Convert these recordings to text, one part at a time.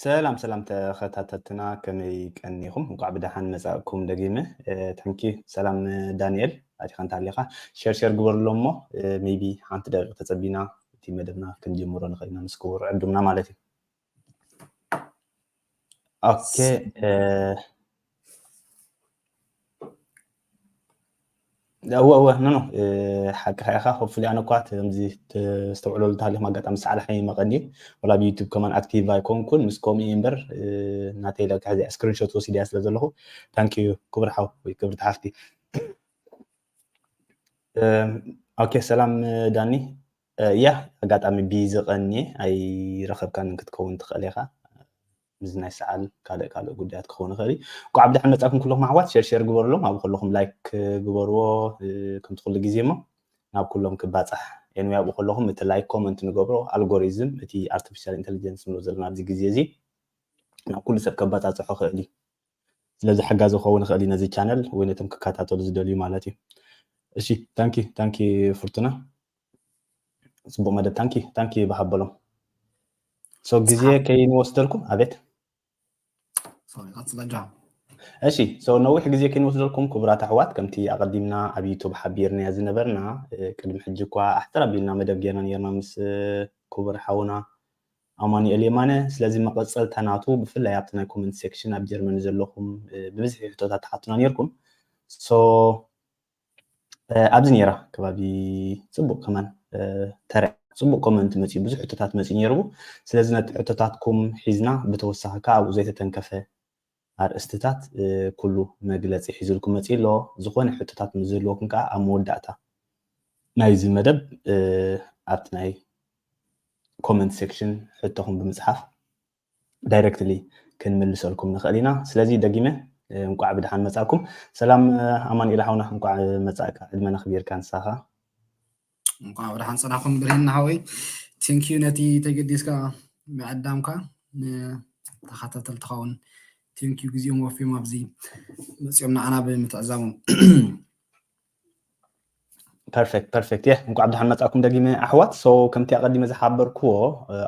ሰላም ሰላም ተኸታተልትና ከመይ ቀኒኹም እንኳዕ ብደሓን መፃእኩም ደጊመ ታንኪ ሰላም ዳንኤል ኣቲኻ እንተሃሊኻ ሸር ሸር ግበርሎ እሞ ሜቢ ሓንቲ ደቂቕ ተፀቢና እቲ መደብና ክንጅምሮ ንኽእልና ምስ ክቡር ዕዱምና ማለት እዩ Okej. Eh. እወ እወ ኖ ኖ ሓቅኻ ኢኻ ኮፍሊ ኣነ እኳ ከምዚ ዝተውዕለሉ ታሪክ ኣጋጣሚ ሰዓል ሓይ መቐኒ ወላ ብዩቱብ ከማን ኣክቲቭ ኣይኮንኩን ምስ ከምኡ እምበር ናተይ ለካ እዚኣ ስክሪንሾት ወሲድያ ስለ ዘለኹ ታንክ ዩ ክቡር ሓው ወይ ክብርቲ ሓፍቲ ኦኬ ሰላም ዳኒ ያህ ኣጋጣሚ ቢዚ ቀንየ ኣይረከብካንን ክትከውን ትክእል ኢካ ምስዚ ናይ ሰዓል ካልእ ካልእ ጉዳያት ክኸውን ይኽእል እዩ እንኳዕ ብድሕን መጻኩም ኩልኩም ኣሕዋት ሸር ሸር ግበርሎም ኣብ ከለኹም ላይክ ግበርዎ ከምቲ ኩሉ ግዜ እሞ ናብ ኩሎም ክባጻሕ ኤንወይ ኣብኡ ከለኹም እቲ ላይክ ኮመንት ንገብሮ ኣልጎሪዝም እቲ ኣርቲፊሻል ኢንቴሊጀንስ ንብሎ ዘለና ኣብዚ ግዜ እዚ ናብ ኩሉ ሰብ ከባጻጽሖ ክእል እዩ ስለዚ ሓጋዚ ክኸውን ይኽእል እዩ ነዚ ቻነል ወይ ነቶም ክከታተሉ ዝደልዩ ማለት እዩ እሺ ታንኪ ታንኪ ፍርቱና ጽቡቅ መደብ ታንኪ ታንኪ ይበሃበሎም ሶ ግዜ ከይንወስደልኩም ኣቤት እሺ ሰው ነዊሕ ግዜ ከይንወስደልኩም ክቡራት ኣሕዋት ከምቲ ኣቐዲምና ኣብ ዩቱብ ሓቢርናያ ዝነበርና ቅድሚ ሕጂ እኳ ኣሕፅር ኣቢልና መደብ ጌርና ነርና ምስ ክቡር ሓውና ኣማኑኤል የማነ ስለዚ መቐፀልታ ናቱ ብፍላይ ኣብቲ ናይ ኮመንት ሴክሽን ኣብ ጀርመን ዘለኹም ብብዝሒ ሕቶታት ትሓቱና ነርኩም ሶ ኣብዚ ነይራ ከባቢ ፅቡቅ ከማን ተረ ፅቡቅ ኮመንት መፅዩ ብዙሕ ሕቶታት መፅዩ ነይሩ ስለዚ ነቲ ሕቶታትኩም ሒዝና ብተወሳኺ ከዓ ኣብኡ ዘይተተንከፈ ኣርእስትታት ኩሉ መግለፂ ሒዝልኩም መፅዩ ኣሎ ዝኾነ ሕቶታት ምስ ዝህልወኩም ከዓ ኣብ መወዳእታ ናይዚ መደብ ኣብቲ ናይ ኮመንት ሴክሽን ሕቶኹም ብምፅሓፍ ዳይረክትሊ ክንምልሰልኩም ንኽእል ኢና ስለዚ ደጊመ እንቋዕ ብድሓን መጻእኩም ሰላም ኣማንኤል ሓውና እንቋዕ መጻእካ ዕድመ ነኽቢርካ ንሳኻ እንቋዕ ብድሓን ጽናኹም ብርሄን ሓወይ ቴንኪዩ ነቲ ተገዲስካ ምዕዳምካ ንተኸታተልትኻውን ቴንኪዩ ግዜኦም ወፍዮም ኣብዚ መፅኦም ንዓና ብምትዕዛቦም ፐርፌክት ፐርፌክት የ እንኳዕ ብድሓን መፃእኩም ደጊመ ኣሕዋት ሶ ከምቲ ኣቐዲመ ዝሓበርክዎ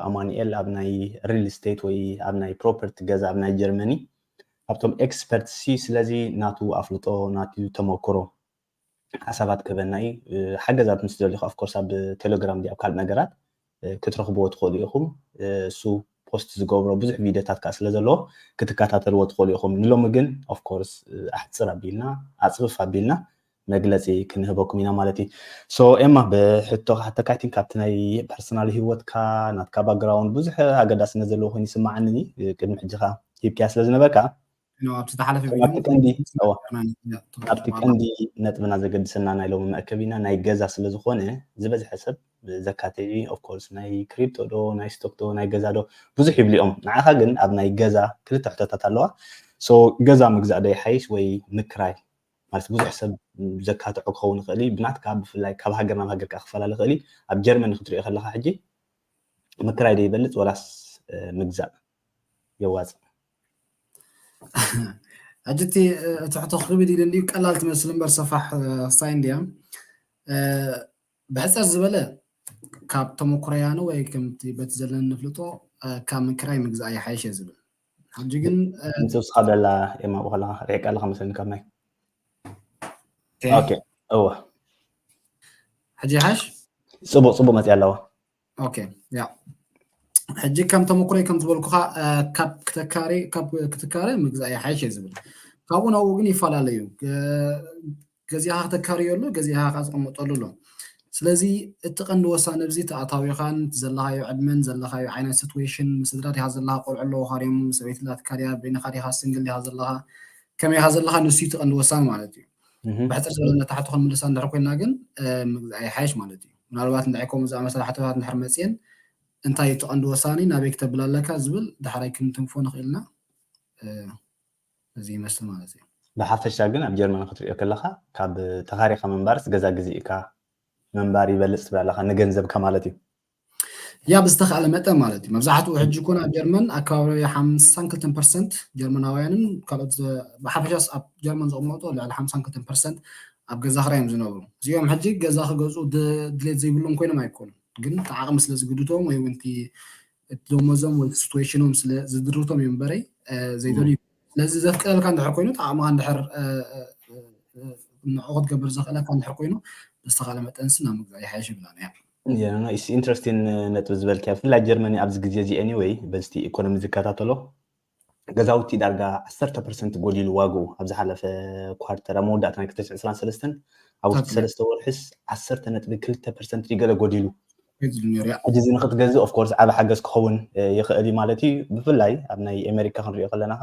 ኣማኒኤል ኣብ ናይ ሪል ስቴት ወይ ኣብ ናይ ፕሮፐርቲ ገዛ ኣብ ናይ ጀርመኒ ካብቶም ኤክስፐርት ሲ ስለዚ ናቱ ኣፍልጦ ናቱ ተመክሮ ሓሳባት ክህበና እዩ ሓገዛት ምስ ዘልኹ ኣፍኮርስ ኣብ ቴሌግራም ዲ ኣብ ካልእ ነገራት ክትረኽብዎ ትኽእሉ ኢኹም። እሱ ፖስት ዝገብሮ ብዙሕ ቪድዮታት ከኣ ስለ ዘሎ ክትከታተልዎ ትኽእሉ ኢኹም። ንሎሚ ግን ኦፍ ኮርስ ኣሕጽር ኣቢልና ኣጽፍፍ ኣቢልና መግለጺ ክንህበኩም ኢና ማለት እዩ። ሶ ኤማ ብሕቶ ክሓተካ ኣይ ቲንክ ካብቲ ናይ ፐርሰናል ሂወትካ ናትካ ባክግራውንድ ብዙሕ ኣገዳስነት ዘለዎ ኮይኑ ይስምዓኒ ቅድሚ ሕጂ ከኣ ሂብካያ ስለ ዝነበርካ ኣብቲ ቀንዲ ነጥብና ዘገድሰና ናይ ሎሚ መእከቢና ናይ ገዛ ስለዝኾነ ዝበዝሐ ሰብ ዘካትዒ ኦፍኮርስ ናይ ክሪፕቶ ዶ ናይ ስቶክ ዶ ናይ ገዛ ዶ ብዙሕ ይብሉ እዮም ንዓኻ ግን ኣብ ናይ ገዛ ክልተ ሕቶታት ኣለዋ ሶ ገዛ ምግዛእ ዶ ይሓይሽ ወይ ምክራይ ማለት ብዙሕ ሰብ ዘካትዖ ክኸውን ይኽእል እዩ ብናትካ ብፍላይ ካብ ሃገር ናብ ሃገር ከዓ ክፈላለ ይኽእል እዩ ኣብ ጀርመን ክትሪኦ ከለካ ሕጂ ምክራይ ዶ ይበልፅ ወላስ ምግዛእ የዋፅእ ሕጂ እቲ ትሕቶ ክብል ይደልዩ ቀላል ትመስል እምበር ሰፋሕ ክሳይ እንድያ ብሕፀር ዝበለ ካብ ተመኩረያኑ ወይ ከምቲ በቲ ዘለና ንፍልጦ ካብ ምክራይ ምግዛእ ይሓይሽ እየ ዝብል ሕጂ ግን ንስብስኻ ደላ ኤማ ብኸላ ርሒቃ ኣለኻ መስለኒ ካብ ናይ ኦኬ እወ ሕጂ ይሓሽ ፅቡቅ ፅቡቅ መፅያ ኣለዋ ኦኬ ያ ሕጂ ከም ተመክሮይ ከም ዝበልኩኻ ካብ ክትካረ ካብ ክትካረ ምግዛእ ይሓይሽ እየ ዝብል ካብኡ ናብኡ ግን ይፈላለዩ ገዚኻ ክተካርዮ ኣሎ ገዚኻ ካስቀመጠሉ ኣሎ ስለዚ እቲ ቀንዲ ወሳኒ ብዚ ተኣታዊኻን ዘለኻዮ ዕድመን ዘለኻዮ ዓይነት ሲትዌሽን ምስድራ ዲኻ ዘለኻ ቆልዑ ኣለውኻ ድዮም ሰበይቲ ላትካ ድያ በይንኻ ዲኻ ስንግል ዲኻ ዘለኻ ከመይ ኢኻ ዘለኻ ንሱ እቲ ቀንዲ ወሳኒ ማለት እዩ ብሕፅር ዝበለ ነታ ሕቶ ክንምልሳ እንድሕር ኮይና ግን ይሓይሽ ማለት እዩ ምናልባት እንታይ ከምኡ ዝኣመሰለ ሓቶታት እንድሕር መፅየን እንታይ እዩ ትቐንዲ ወሳኒ ናበይ ክተብል ኣለካ ዝብል ዳሕራይ ክንትንፎ ንኽእል ኢና እዚ ይመስል ማለት እዩ ብሓፈሻ ግን ኣብ ጀርመን ክትሪኦ ከለኻ ካብ ተኻሪኻ ምንባርስ ገዛ ግዜ ኢካ ምንባር ይበልፅ ትብል ኣለኻ ንገንዘብካ ማለት እዩ ያ ብዝተኻእለ መጠን ማለት እዩ መብዛሕትኡ ሕጂ ኮን ኣብ ጀርመን ኣከባቢ ሓምሳን ክልተን ፐርሰንት ጀርመናውያንን ካልኦት ብሓፈሻስ ኣብ ጀርመን ዝቕመጡ ልዕሊ ሓምሳን ክልተን ፐርሰንት ኣብ ገዛ ክራይ እዮም ዝነብሩ እዚኦም ሕጂ ገዛ ክገዝኡ ድሌት ዘይብሎም ኮይኖም ኣይኮኑን ግን እቲ ዓቕሚ ስለ ዝግድቶም ወይ እውን እቲ ደሞዞም ወይ ሲትዌሽኖም ስለ ዝድርቶም እዮም በረይ ዘይደልዩ ስለዚ ዘፍቅደልካ እንድሕር ኮይኑ እቲ ዓቕምኻ እንድሕር ንዕኡ ክትገብር ዘኽእለካ እንድሕር ኮይኑ ብዝተኻለ መጠንሲ ናብ ምግዛእ ይሓይሽ ይብላን እያ ኢንተረስቲን ነጥቢ ዝበልክያ ብፍላይ ጀርመኒ ኣብዚ ግዜ እዚ ኤኒወይ በዝቲ ኢኮኖሚ ዝከታተሎ ገዛውቲ ዳርጋ ዓሰርተ ፐርሰንት ጎዲሉ ዋግኡ ኣብ ዝሓለፈ ኳርተር ኣብ መወዳእታ ናይ ክልተ ዕስራን ሰለስተን ኣብ ውሽጢ ሰለስተ ወርሒስ ዓሰርተ ነጥቢ ክልተ ፐርሰንት ገለ ጎዲሉ ሕጂ እዚ ንክትገዝእ ኦፍኮርስ ዓበ ሓገዝ ክኸውን ይኽእል እዩ ማለት እዩ ብፍላይ ኣብ ናይ ኣሜሪካ ክንሪኦ ከለናኻ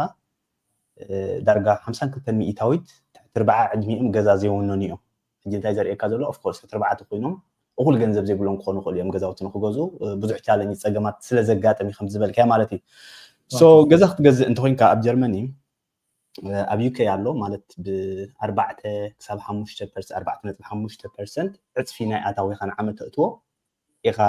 ዳርጋ ሓምሳን ክልተን ሚኢታዊት ትሕቲ ርብዓ ዕድሚኦም ገዛ ዘይወነኑ እዮም ሕጂ እንታይ ዘርእየካ ዘሎ of course እትርብዓት ኮይኖም እኹል ገንዘብ ዘይብሎም ክኾኑ ይኽእሉ እዮም ገዛውቲ ንክገዝኡ ብዙሕ ቻለንጅ ጸገማት ስለ ዘጋጥም እዩ ከምዚ ዝበልካዮ ማለት እዩ ሶ ገዛ ክትገዝእ እንተኮይንካ ኣብ ጀርመኒ ኣብ ዩኬ ኣሎ ማለት ብኣርባዕተ ክሳብ ሓሙሽተ ፐርሰንት ኣርባዕተ ነጥቢ ሓሙሽተ ፐርሰንት ዕፅፊ ናይ ኣታዊኻ ንዓመት ተእትዎ ኢኻ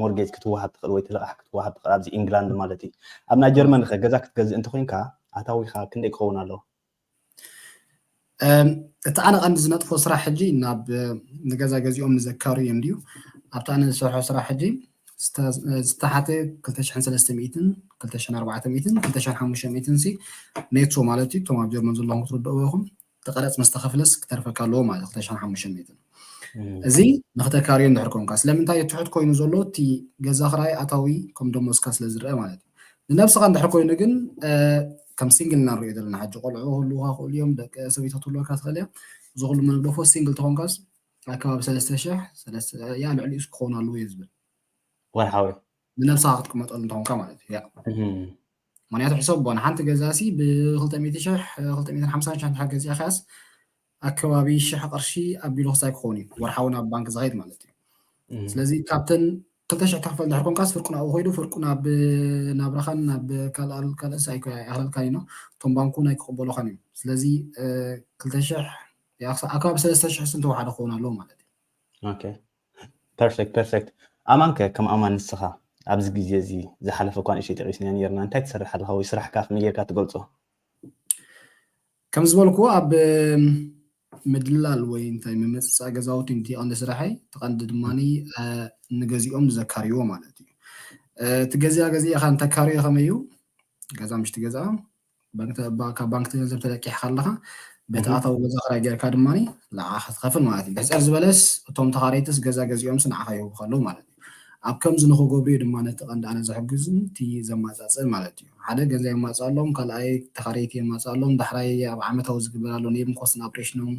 ሞርጌጅ ክትወሃብ ትኽእል ወይ ትልቓሕ ክትወሃብ ትኽእል ኣብዚ ኢንግላንድ ማለት እዩ ኣብ ናይ ጀርመን ኸ ገዛ ክትገዝእ እንተኮይንካ ኣታዊኻ ክንደይ ክኸውን ኣለዎ እቲ ኣነ ቀንዲ ዝነጥፎ ስራሕ ሕጂ ናብ ንገዛ ገዚኦም ንዘካሩ እዮም ድዩ ኣብቲ ኣነ ዝሰርሖ ስራሕ ሕጂ ዝተሓተ 2300 2400 2500 ሲ ኔቶ ማለት እዩ እቶም ኣብ ጀርመን ዘለኹም ክትርድእዎ ኢኹም እቲ ቀረፅ ምስ ተኸፍለስ ክተርፈካ ኣለዎ ማለት እዩ 2500 እዚ ንክተካርዮ እንድሕር ኮንካ ስለምንታይ እዩ ትሑት ኮይኑ ዘሎ እቲ ገዛ ክራይ ኣታዊ ከም ደሞዝካ ስለ ዝረአ ማለት እዩ ንነብስኻ እንድሕር ኮይኑ ግን ከም ሲንግል ኢና ንሪኦ ዘለና ሕጂ ቆልዑ ክህልውካ ክእሉ እዮም ደቂ ሰበይቶ ትህልወካ ትኽእል እያ እዚ ኩሉ መግደፎ ሲንግል ተኾንካስ ኣከባቢ ሰለስተ ሽሕ ሰለስተ ያ ልዕሊኡ ክኸውን ኣለዎ እዩ ዝብል ወርሓዊ ንነብስኻ ክትቅመጠሉ እንተኾንካ ማለት እዩ ምክንያቱ ሕሰቦ ንሓንቲ ገዛሲ ብ200 ሽሕ 250 ሽሕ እንድሕር ገዚእካያስ ኣከባቢ ሽሕ ቅርሺ ኣቢሉ ክሳይ ክኸውን እዩ ወርሓዊ ናብ ባንክ ዝኸይድ ማለት እዩ ስለዚ ካብተን ክልተ ሽሕ ተኽፈል ድሕር ኮንካስ ፍርቁ ናብኡ ኮይዱ ፍርቁ ናብ ናብራኻን ናብ ካልኣል ካልእስ ኣይክረልካን እዩ እቶም ባንኩ ናይ ክቕበሉኻን እዮም ስለዚ ክልተ ሽሕ ኣከባቢ ሰለስተ ሽሕ ስንተ ወሓደ ክኸውን ኣለዎ ማለት እዩ ኦኬ ፐርፌክት ፐርፌክት ኣማን ከ ከም ኣማን ንስኻ ኣብዚ ግዜ እዚ ዝሓለፈ እኳ ንእሽተይ ጠቂስና ነርና እንታይ ትሰርሕ ኣለኻ ወይ ስራሕካ ከመይ ጌርካ ትገልጾ ከም ዝበልክዎ ኣብ ምድላል ወይ እንታይ ምምፅፃእ ገዛውቲ እቲ ቀንዲ ስራሐይ እቲ ቀንዲ ድማ ንገዚኦም ንዘካርይዎ ማለት እዩ እቲ ገዚኣ ገዚእኻ እንተካርዮ ከመይ እዩ ገዛ ምሽቲ ገዛ ካብ ባንክ ገንዘብ ተለቂሕካ ኣለኻ በቲ ኣታዊ ገዛ ክራይ ጌርካ ድማ ንዓኻ ትኸፍል ማለት እዩ ሕፀር ዝበለስ እቶም ተኻረይትስ ገዛ ገዚኦምስ ንዓኻ ይህቡ ከለዉ ማለት ኣብ ከምዚ ንክገብሩዩ ድማ ነቲ ቀንዲ ኣነ ዝሕግዝ ኑቲ ዘማጻጽእ ማለት እዩ ሓደ ገንዘብ የማጽኣሎም ካልኣይ ተካረይቲ የማጽኣሎም ዳሕራይ ኣብ ዓመታዊ ዝግበር ኣሎ ኔም ኮስት ን ኣፕሬሽኖም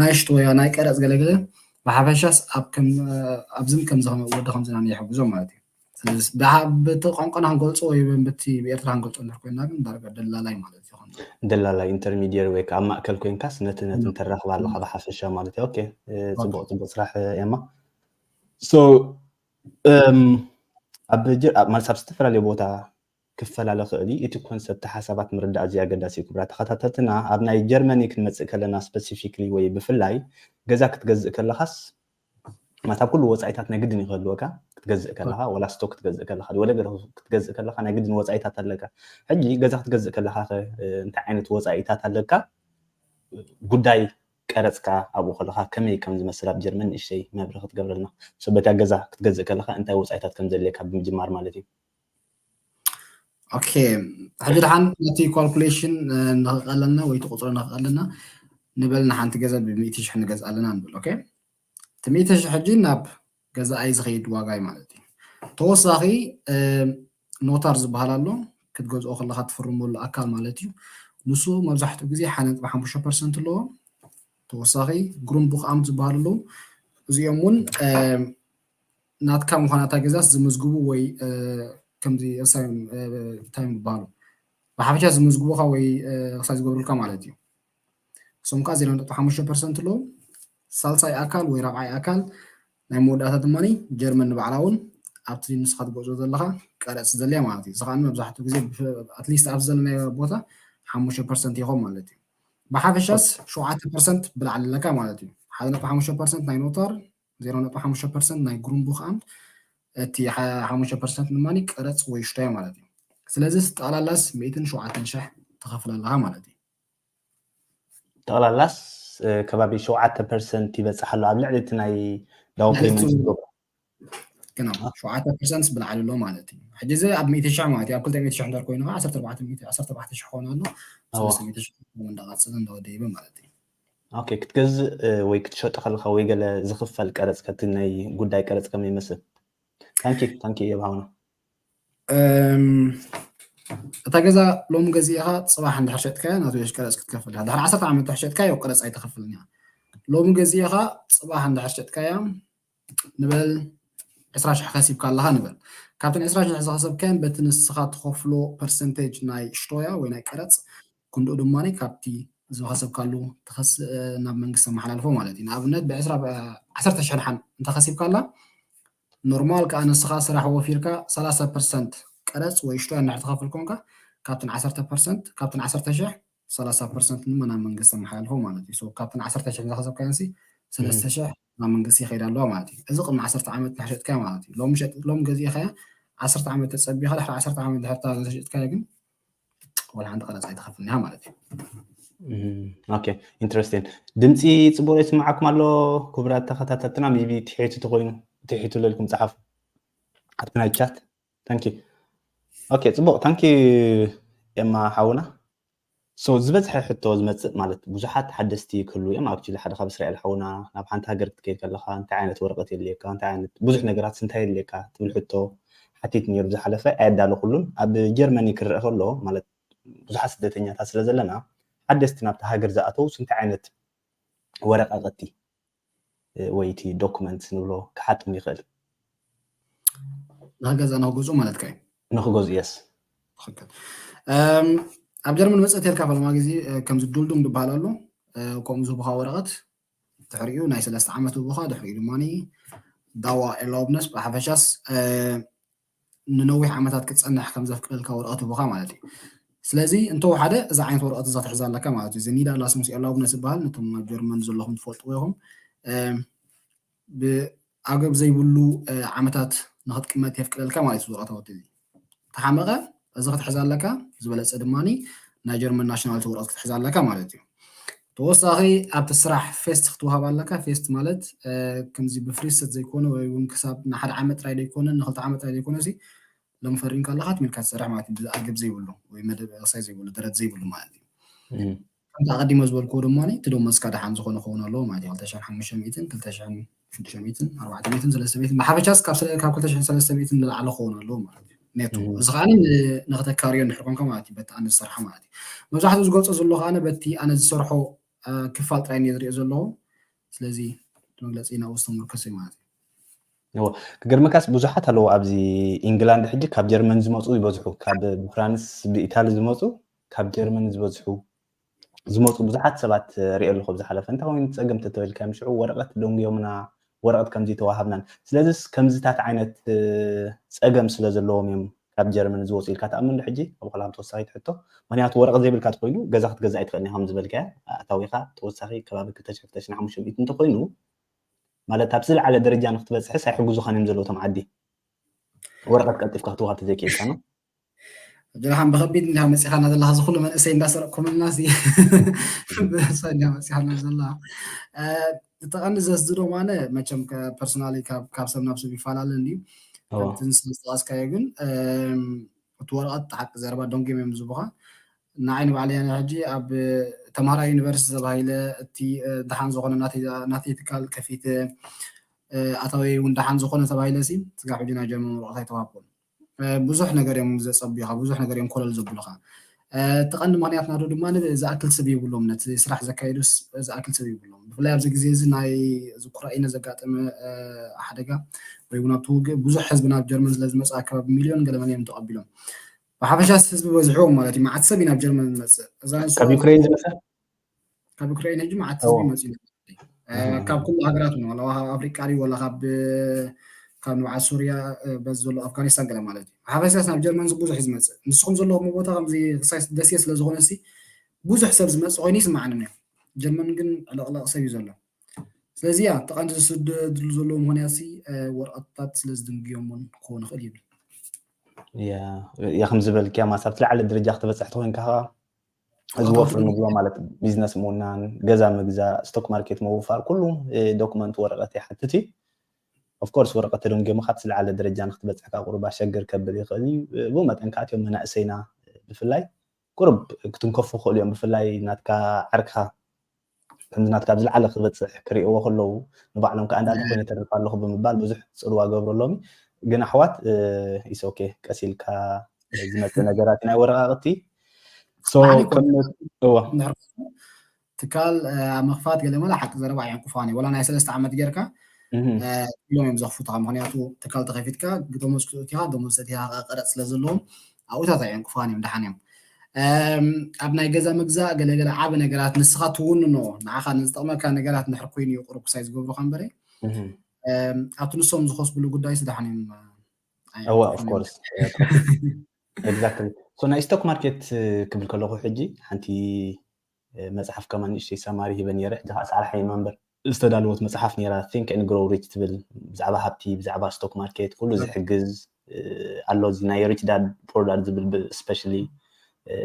ናይ ሽቶያ ናይ ቀረጽ ገለገለ ብሓፈሻስ ኣብ ከም ኣብዝን ከምዚ ወዲ ከምዚ ናኒ ይሕግዞም ማለት እዩ ስለዚ ድሓ በቲ ቋንቋና ክንገልጾ ወይ በቲ ብኤርትራ ክንገልጾ እንድሕር ኮይና ግን ዳርጋ ደላላይ ማለት ይኾን ደላላይ ኢንተርሚዲየር ወይ ከዓ ማእከል ኮይንካስ ነቲ ነቲ ተራኽባ ኣለኻ ብሓፈሻ ማለት እዩ ኦኬ ጽቡቕ ጽቡቕ ስራሕ ኤማ ኣብ ዝተፈላለየ ቦታ ክፈላለ ክእል እዩ እቲ ኮንሰፕት ሓሳባት ምርዳእ ኣዝዩ ኣገዳሲ እዩ ክብራ ተኸታተልትና ኣብ ናይ ጀርመኒ ክንመፅእ ከለና ስፐሲፊክሊ ወይ ብፍላይ ገዛ ክትገዝእ ከለኻስ ማታ ኩሉ ወፃኢታት ናይ ግድን ይኸልወካ ክትገዝእ ከለኻ ወላ ስቶ ክትገዝእ ከለኻ ወለ ገለ ክትገዝእ ከለኻ ናይ ግድን ወፃኢታት ኣለካ ሕጂ ገዛ ክትገዝእ ከለኻ እንታይ ዓይነት ወፃኢታት ኣለካ ጉዳይ ቀረጽ ከኣ ኣብኡ ከለኻ ከመይ ከም ዝመስል ኣብ ጀርመን ንእሽተይ መብርሂ ክትገብረልና። ሰበይትካ ገዛ ክትገዝእ ከለኻ እንታይ ወጻኢታት ከም ዘድልየካ ብምጅማር ማለት እዩ። ኦኬ ሕጂ ድሓን ነቲ ኳልኩሌሽን ንክቀለልና ወይ እቲ ቁጽሪ ንክቀለልና ንበል ንሓንቲ ገዛ ብ ሚእቲ ሽሕ ንገዝኣ ኣለና ንብል ኦኬ እቲ ሚእቲ ሽሕ ሕጂ ናብ ገዛኣይ ዝኸይድ ዋጋይ ማለት እዩ። ተወሳኺ ኖታር ዝበሃል ኣሎ ክትገዝኦ ከለካ ትፍርመሉ ኣካል ማለት እዩ ንሱ መብዛሕትኡ ግዜ ሓደ ነጥቢ ሓሙሽተ ፐርሰንት ኣለዎ ተወሳኺ ግሩም ቡክ ኣምት ዝበሃሉ ኣለዉ እዚኦም እውን ናትካ ምዃን እታ ገዛስ ዝምዝግቡ ወይ ከምዚ እንታይ ይበሃሉ ብሓፈሻ ዝምዝግቡካ ወይ ክሳብ ዝገብሩልካ ማለት እዩ እሶም ከዓ ዜሮ ነጥቢ ሓሙሽተ ፐርሰንት ኣለዉ ሳልሳይ ኣካል ወይ ራብዓይ ኣካል ናይ መወዳእታ ድማ ጀርመን ንባዕላ እውን ኣብቲ ንስኻ ትጎዕዞ ዘለኻ ቀረፅ ስለዘለያ ማለት እዩ እዚ ከዓ መብዛሕትኡ ግዜ ኣትሊስት ኣብዚ ዘለናዮ ቦታ ሓሙሽተ ፐርሰንት ይኾን ማለት እዩ ብሓፈሻስ ሸውዓተ ፐርሰንት ብላዕሊ ኣለካ ማለት እዩ ሓደ ነጥቢ ሓሙሽተ ፐርሰንት ናይ ኖታር ዜሮ ነጥቢ ሓሙሽተ ፐርሰንት ናይ ግሩምቡክ ኣምት እቲ ሓሙሽተ ፐርሰንት ድማ ቀረፅ ወይ ሽታዮ ማለት እዩ ስለዚ ስጠቕላላስ ሚእትን ሸውዓተን ሽሕ ትኸፍል ኣለኻ ማለት እዩ ጠቕላላስ ከባቢ ሸውዓተ ፐርሰንት ይበፅሕ ኣሎ ኣብ ልዕሊ እቲ ናይ ዳውን ፔመንት ዝገብሮ ግና ሸውዓተ ፐርሰንትስ ብላዕሊ ኣሎ ማለት እዩ ሕጂ እዚ ኣብ ሚእቲ ሽሕ ማለት እዩ ኣብ ክልተ ሚእቲ ሽሕ እንድር ኮይኑ ከዓ ዓሰርተ ኣርባዕተ ሚእቲ ዓሰርተ ኣርባዕተ ሽሕ ክኾን ኣሎ ሰለስተ ሚእቲ ሽሕ እንዳቐፅለ እንዳወደይበ ማለት እዩ ኦኬ ክትገዝእ ወይ ክትሸጦ ከለካ ወይ ገለ ዝኽፈል ቀረፅ ከቲ ናይ ጉዳይ ቀረፅ ከመይ ይመስል ታንኪ ታንኪ የብሃውና እታ ገዛ ሎሚ ገዚእኻ ፅባሕ እንድሕር ሸጥካያ ናቱ የሽ ቀረፅ ክትከፍል ኢኻ ድሕሪ ዓሰርተ ዓመት እንድሕር ሸጥካዮ ቀረፅ ኣይተኸፍልን እያ ሎሚ ገዚእኻ ፅባሕ እንድሕር ሸጥካያ ንበል ዕስራ ሽሕ ከሲብካ ኣለኻ ንበል ካብተን ዕስራ ሽሕ ዝኸሰብካየን በቲ ንስኻ ትኸፍሎ ፐርሰንቴጅ ናይ ሽቶያ ወይ ናይ ቀረፅ ክንድኡ ድማ ካብቲ ዝኸሰብካሉ ትኸስ ናብ መንግስቲ መሓላልፎ ማለት እዩ ንኣብነት ብዕስራ ዓሰርተ ሽሕ ድሓን እንተኸሲብካ ኣላ ኖርማል ከኣ ንስኻ ስራሕ ወፊርካ ሰላሳ ፐርሰንት ቀረጽ ወይ ሽቶ እንድሕር ትኸፍል ኮንካ ካብተን ዓሰርተ ፐርሰንት ካብተን ዓሰርተ ሽሕ ሰላሳ ፐርሰንት ድማ ናብ መንግስቲ ኣመሓላልፎ ማለት እዩ። ሶ ካብተን ዓሰርተ ሽሕ ዝኸሰብካየንሲ ሰለስተ ሽሕ ናብ መንግስቲ ይኸይዳ ኣለዋ ማለት እዩ። እዚ ቅድሚ ዓሰርተ ዓመት እንድሕር ሸጥካያ ማለት እዩ። ሎሚ ሸጥ ሎሚ ገዚእኻያ ዓሰርተ ዓመት ተጸቢኻ ድሕሪ ዓሰርተ ዓመት እንድሕር እታ ዘሸጥካያ ግን ወላ ሓንቲ ቀረፅ ኣይትኸፍል እኒሃ ማለት እዩ ኦኬ ኢንትረስቲን ድምፂ ፅቡቅ ይስማዓኩም ኣሎ ክቡራት ተኸታተልትና ሜቢ ትሒቱ ተኮይኑ ትሒቱ ለልኩም ፀሓፉ ኣብቲ ናይ ቻት ታንኪ ኦኬ ፅቡቅ ታንኪ ኤማ ሓውና ሶ ዝበዝሐ ሕቶ ዝመፅእ ማለት ብዙሓት ሓደስቲ ክህሉ እዮም ኣብቲ ሓደ ካብ እስራኤል ሓውና ናብ ሓንቲ ሃገር ክትከይድ ከለካ እንታይ ዓይነት ወረቀት የድልየካ እንታይ ዓይነት ብዙሕ ነገራት እንታይ የድልየካ ትብል ሕቶ ሓቲት ኔሩ ዝሓለፈ ኣየዳለኹሉን ኣብ ጀርመኒ ክረኣ ከሎ ማለት ብዙሓት ስደተኛታት ስለ ዘለና ሓደስቲ ናብታ ሃገር ዝኣተው ስንታይ ዓይነት ወረቃቀቲ ወይ እቲ ዶኩመንት ንብሎ ክሓቶም ይኽእል ንክገዛ ንክገዝኡ ማለትካ እዩ ንክገዝኡ የስ ትክክል ኣብ ጀርመን መፅእ ተልካ ፈለማ ግዜ ከምዚ ዱልዱም ዝበሃል ኣሎ ከምኡ ዝህቡካ ወረቀት ድሕሪኡ ናይ ሰለስተ ዓመት ውቡኻ ድሕሪኡ ድማ ዳዋ ኤርላውብነስ ብሓፈሻስ ንነዊሕ ዓመታት ክትፀንሕ ከም ዘፍቅደልካ ወረቐት ውቡኻ ማለት እዩ ስለዚ እንተወሓደ እዛ ዓይነት ወረቐት እዛ ትሕዛ ኣለካ ማለት እዩ እዚ ኒዳ ላስሙስ ኤርላውብነስ ዝበሃል ነቶም ኣብ ጀርመን ዘለኹም ትፈልጥዎ ኢኹም ዓገብ ዘይብሉ ዓመታት ንክትቅመጥ የፍቅደልካ ማለት እዩ ወረቀት ኣውት እዚ ተሓመቀ እዚ ክትሕዝ ኣለካ ዝበለፀ ድማ ናይ ጀርመን ናሽናሊቲ ወረቀት ክትሕዝ ኣለካ ማለት እዩ ተወሳኺ ኣብቲ ስራሕ ፌስት ክትወሃብ ኣለካ ፌስት ማለት ከምዚ ብፍሪሰት ዘይኮነ ወይ እውን ክሳብ ንሓደ ዓመት ጥራይ ዘይኮነ ንክልተ ዓመት ጥራይ ዘይኮነ ሲ ሎም ፈሪምካ ኣለካ ትሚልካ ትሰርሕ ማለት እዩ ኣገብ ዘይብሉ ወይ መደብ ቅሳይ ዘይብሉ ደረት ዘይብሉ ማለት እዩ ከምቲ ኣቐዲመ ዝበልክዎ ድማ እቲ ደሞዝ እስካ ደሓን ዝኾነ ክኸውን ኣለዎ ማለት እዩ። ክልተ ሽሕን ሓሙሽተ ሚእትን፣ ክልተ ሽሕን ሽዱሽተ ሚእትን፣ ኣርባዕተ ሚእትን፣ ሰለስተ ሚእትን ብሓፈሻ እስካብ ስለ ካብ ክልተ ሽሕን ሰለስተ ሚእትን ንላዕሊ ክኸውን ኣለዎ ማለት እዩ። ኔቶ እዚ ከኣ ን- ንክተካርዮ እንድሕር ኮንካ ማለት እዩ በቲ ኣነ ዝሰርሓ ማለት እዩ። መብዛሕትኡ ዝገልጾ ዘሎ ከኣ በቲ ኣነ ዝሰርሖ እ፣ ክፋል ጥራይ እየ ዝርእዮ ዘለኹ። ስለዚ እቲ መግለጺ ናብኡ ዝተመርኮሰ እዩ ማለት እዩ። እዎ ክገርመካስ ብዙሓት ኣለዉ ኣብዚ ኢንግላንድ ሕጂ ካብ ጀርመን ዝመፁ ይበዝሑ ካብ ብፍራንስ ብኢታሊ ዝመፁ ካብ ጀርመን ዝበዝሑ ዝመጹ ብዙሓት ሰባት ሪኤ ኣለኹ ኣብ ዝሓለፈ። እንታይ ኮይኑ ጸገም ተተበልካዮም ሽዑ ወረቐት ደንጉዮምና ወረቐት ከምዚ ተዋሃብናን ስለዚስ ከምዚታት ዓይነት ጸገም ስለ ዘለዎም እዮም ካብ ጀርመን ዝወጹ ኢልካ ትኣምን ዶ ሕጂ ኣብ ሆላንድ ተወሳኺት ሕቶ ምክንያቱ ወረቐት ዘይብልካ ተኮይኑ ገዛ ክትገዝእ ኣይትኽእልን ኢኻ ከምዝበልካያ ኣታዊኻ ተወሳኺ ከባቢ ክልተ ሽሕ ክልተ ሽሕን ሓሙሽተ ሚእትን እንተኮይኑ ማለት ኣብ ዝለዓለ ደረጃ ንክትበጽሕስ ኣይሕግዙኻን እዮም ዘለዉ እቶም ዓዲ ወረቐት ቀልጢፍካ ክትወሃብ ተዘይክኢልካ ነው ጀርሓን ብከቢድ እንዳ መፂኻና ዘለካ እዚ ኩሉ መንእሰይ እንዳሰረቅኩምልና እዚ ብእሶ እንዳ መፂኻና ዘላ እቲ ቀንዲ ዘስድሮ ማነ መቸም ፐርሶናሊ ካብ ሰብ ናብ ሰብ ይፈላለ እንድዩ ከምቲ ንስዝጠቀስካዮ ግን እቲ ወረቐት ተሓቂ ዘረባ ዶንጌም እዮም ዝቡኻ ንዓይ ንባዕለ ሕጂ ኣብ ተምሃራ ዩኒቨርሲቲ ተባሂለ እቲ ድሓን ዝኾነ ናተይ ትካል ከፊት ኣታወይ እውን ድሓን ዝኾነ ተባሂለ ሲ ስጋብ ሕጂ ናይ ጀርመን ወረቐት ኣይተዋህብኩም ብዙሕ ነገር እዮም ዘጸብዩኻ፣ ብዙሕ ነገር እዮም ኮለል ዘብሉኻ። እቲ ቀንዲ ምክንያት ናቱ ድማ ዝኣክል ሰብ የብሎም፣ ነቲ ስራሕ ዘካይዱ ዝኣክል ሰብ የብሎም። ብፍላይ ኣብዚ ግዜ እዚ ናይ ዝኩራኢነ ዘጋጠመ ሓደጋ ወይ እውን ኣብቲ ውግእ ብዙሕ ህዝቢ ናብ ጀርመን ስለ ዝመጽእ ኣከባቢ ሚልዮን ገለመን እዮም ተቐቢሎም። ብሓፈሻስ ህዝቢ በዝሕዎም ማለት እዩ። መዓት ሰብ እዩ ናብ ጀርመን ዝመጽእ። ካብ ዩክሬን ዝመጸ ካብ ዩክሬን ሕጂ መዓት ህዝቢ መፅኡ ካብ ኩሉ ሃገራት ውን ዋላ ካብ ኣፍሪቃ ድዩ ዋላ ካብ ካብ ንብዓት ሱርያ በዚ ዘሎ ኣፍጋኒስታን ገለ ማለት እዩ ሓፈሻስ ናብ ጀርመን ብዙሕ እዩ ዝመፅእ ንስኹም ዘለኹም ቦታ ከምዚ ክሳይ ደሴ ስለ ዝኾነ ሲ ብዙሕ ሰብ ዝመፅእ ኮይኑ ይስምዓኒ ነይሩ ጀርመን ግን ዕለቕለቕ ሰብ እዩ ዘሎ ስለዚ ያ እቲ ቀንዲ ዝስደድሉ ዘለዎ ምክንያት ሲ ወረቐትታት ስለ ዝድንግዮም እውን ክኸውን ይኽእል ይብል ያ ከም ዝበልክያ ማሳብ ትለዓለ ደረጃ ክትበፅሕ ተኮይንካ ከዓ እዚ ወፍሪ ንብሎ ማለት ቢዝነስ ምውናን ገዛ ምግዛእ ስቶክ ማርኬት ምውፋር ኩሉ ዶክመንት ወረቐት ይሓትት እዩ ኦፍኮርስ ወረቐት ተደንጎምኻ እቲ ዝለዓለ ደረጃ ንክትበፅሕ ካብ ቁሩብ ኣሸግር ከብል ይኽእል እዩ ብኡ መጠን ከዓ እትዮም መናእሰይና ብፍላይ ቁሩብ ክትንከፉ ይኽእሉ እዮም ብፍላይ ናትካ ዓርክኻ ከምዚ ናትካ ኣብ ዝለዓለ ክበጽሕ ክርእይዎ ከለዉ ንባዕሎም ከኣ እንዳ እንተኾይነ እተርፍ ኣለኹ ብምባል ብዙሕ ጽልዋ ገብረሎም ግን ኣሕዋት ኢትስ ኦኬ ቀስ ኢልካ ዝመጽእ ነገራት ናይ ወረቓቕቲ ትካል ኣብ ምኽፋት ገለ መለ ሓቂ ዘረባ ኣየንቁፋን እዩ ወላ ናይ ሰለስተ ዓመት ጌርካ ኢሎም እዮም ዘኽፉትኻ ምክንያቱ ትካል ተኸፊትካ ደሞዝ ክትእትኻ ደሞዝ ሰቲኻ ቀረፅ ስለ ዘለዎም ኣብኡታት ኣየንቁፋን እዮም ደሓን እዮም ኣብ ናይ ገዛ ምግዛእ ገለገለ ዓበ ነገራት ንስኻ ትውንኖ ንዓኻ ንዝጠቕመካ ነገራት ንድሕር ኮይኑ እዩ ቁሩብ ክሳይ ዝገብሩካ እምበረ ኣብቲ ንሶም ዝኸስብሉ ጉዳይ ስዳሕን እዮም እዋ ኦፍኮርስ ኤግዛክትሊ ናይ ስቶክ ማርኬት ክብል ከለኹ ሕጂ ሓንቲ መጽሓፍ ከማን ንእሽተይ ሳማሪ ሂበ ኔረ ሕጂ ከኣ ጻዕሪ ሓይማ እምበር። ዝተዳለወት መጽሓፍ ኔራ Think and Grow Rich ትብል ብዛዕባ ሃብቲ ብዛዕባ ስቶክ ማርኬት ኩሉ ዝሕግዝ ኣሎ እዚ ናይ Rich Dad Poor Dad ዝብል ብ Especially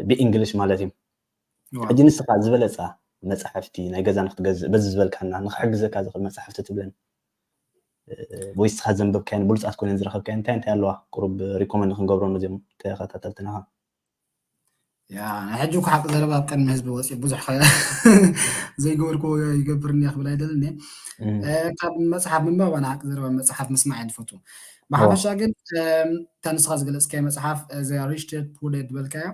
ብ English ማለት እዩ ሕጂ ንስኻ ዝበለጻ መጻሕፍቲ ናይ ገዛ ንክትገዝእ በዚ ዝበልካና ንክሕግዘካ ዝኽእል መጻሕፍቲ ትብለን ወይ ንስኻ ዘንበብካየን ብሉጻት ኮይነን ዝረኸብካየን እንታይ እንታይ ኣለዋ ቁሩብ ሪኮመንድ ክንገብሮም እዚኦም ተኸታተልትናኻ ያ ናይ ሕጂ እኮ ሓቂ ዘረባ ኣብ ቅድሚ ህዝቢ ወፂኡ ብዙሕ ዘይገበርክዎ ይገብር እኒኣ ክብል ኣይደልን ካብ መፅሓፍ ምንባብ ኣነ ሓቂ ዘረባ መፅሓፍ ምስማዕ እየ ዝፈቱ ብሓፈሻ ግን እታ ንስኻ ዝገለፅካዮ መፅሓፍ እዛ ሪች ዳድ ፑር ዳድ ዝበልካያ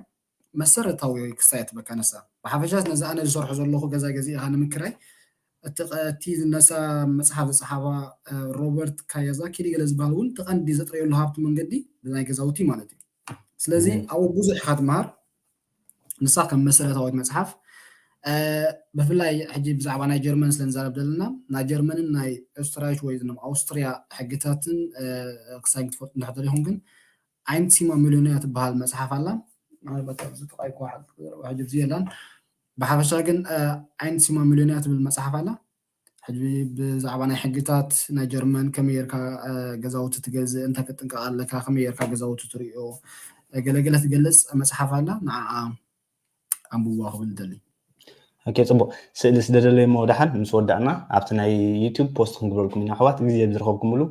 መሰረታዊ ክሳይ ትበካ ነሳ ብሓፈሻ ነዚ ኣነ ዝሰርሖ ዘለኹ ገዛ ገዚእኻ ንምክራይ እቲ ነሳ መፅሓፍ ዝፀሓፋ ሮበርት ካያዛኪ ገለ ዝበሃል እውን ተቐንዲ ዘጥረየሉ ሃብቲ መንገዲ ብናይ ገዛውቲ ማለት እዩ ስለዚ ኣብኡ ብዙሕ ኢኻ ትምሃር ንሳ ከም መሰረታዊት መፅሓፍ ብፍላይ ሕጂ ብዛዕባ ናይ ጀርመን ስለ ንዛረብ ዘለና ናይ ጀርመንን ናይ ኦስትራይሽ ወይ ም ኣውስትርያ ሕግታትን ክሳብ ክትፈልጡ እንድሕር ኢኹም ግን ኣይንት ሲማ ሚሊዮንያ ትበሃል መፅሓፍ ኣላ ምናልባት ኣብዚ ጥቃይኮ ሕጂ ብዚ የላን ብሓፈሻ ግን ኣይንት ሲማ ሚሊዮንያ ትብል መፅሓፍ ኣላ ሕጂ ብዛዕባ ናይ ሕግታት ናይ ጀርመን ከመይ ጌርካ ገዛውቲ ትገዝእ እንታይ ክትጥንቀቕ ኣለካ ከመይ ጌርካ ገዛውቲ ትርእዮ ገለገለ ትገልጽ መጽሓፍ ኣላ ንዓኣ ኣንብዋ ክብል ይደሊ ኦኬ ጽቡቅ ስእሊ ስደደለይ እሞ ደሓን ምስ ወዳእና ኣብቲ ናይ ዩቱብ ፖስት ክንግበልኩም ኢና ኣሕዋት ግዜ ብዝረኸብኩምሉ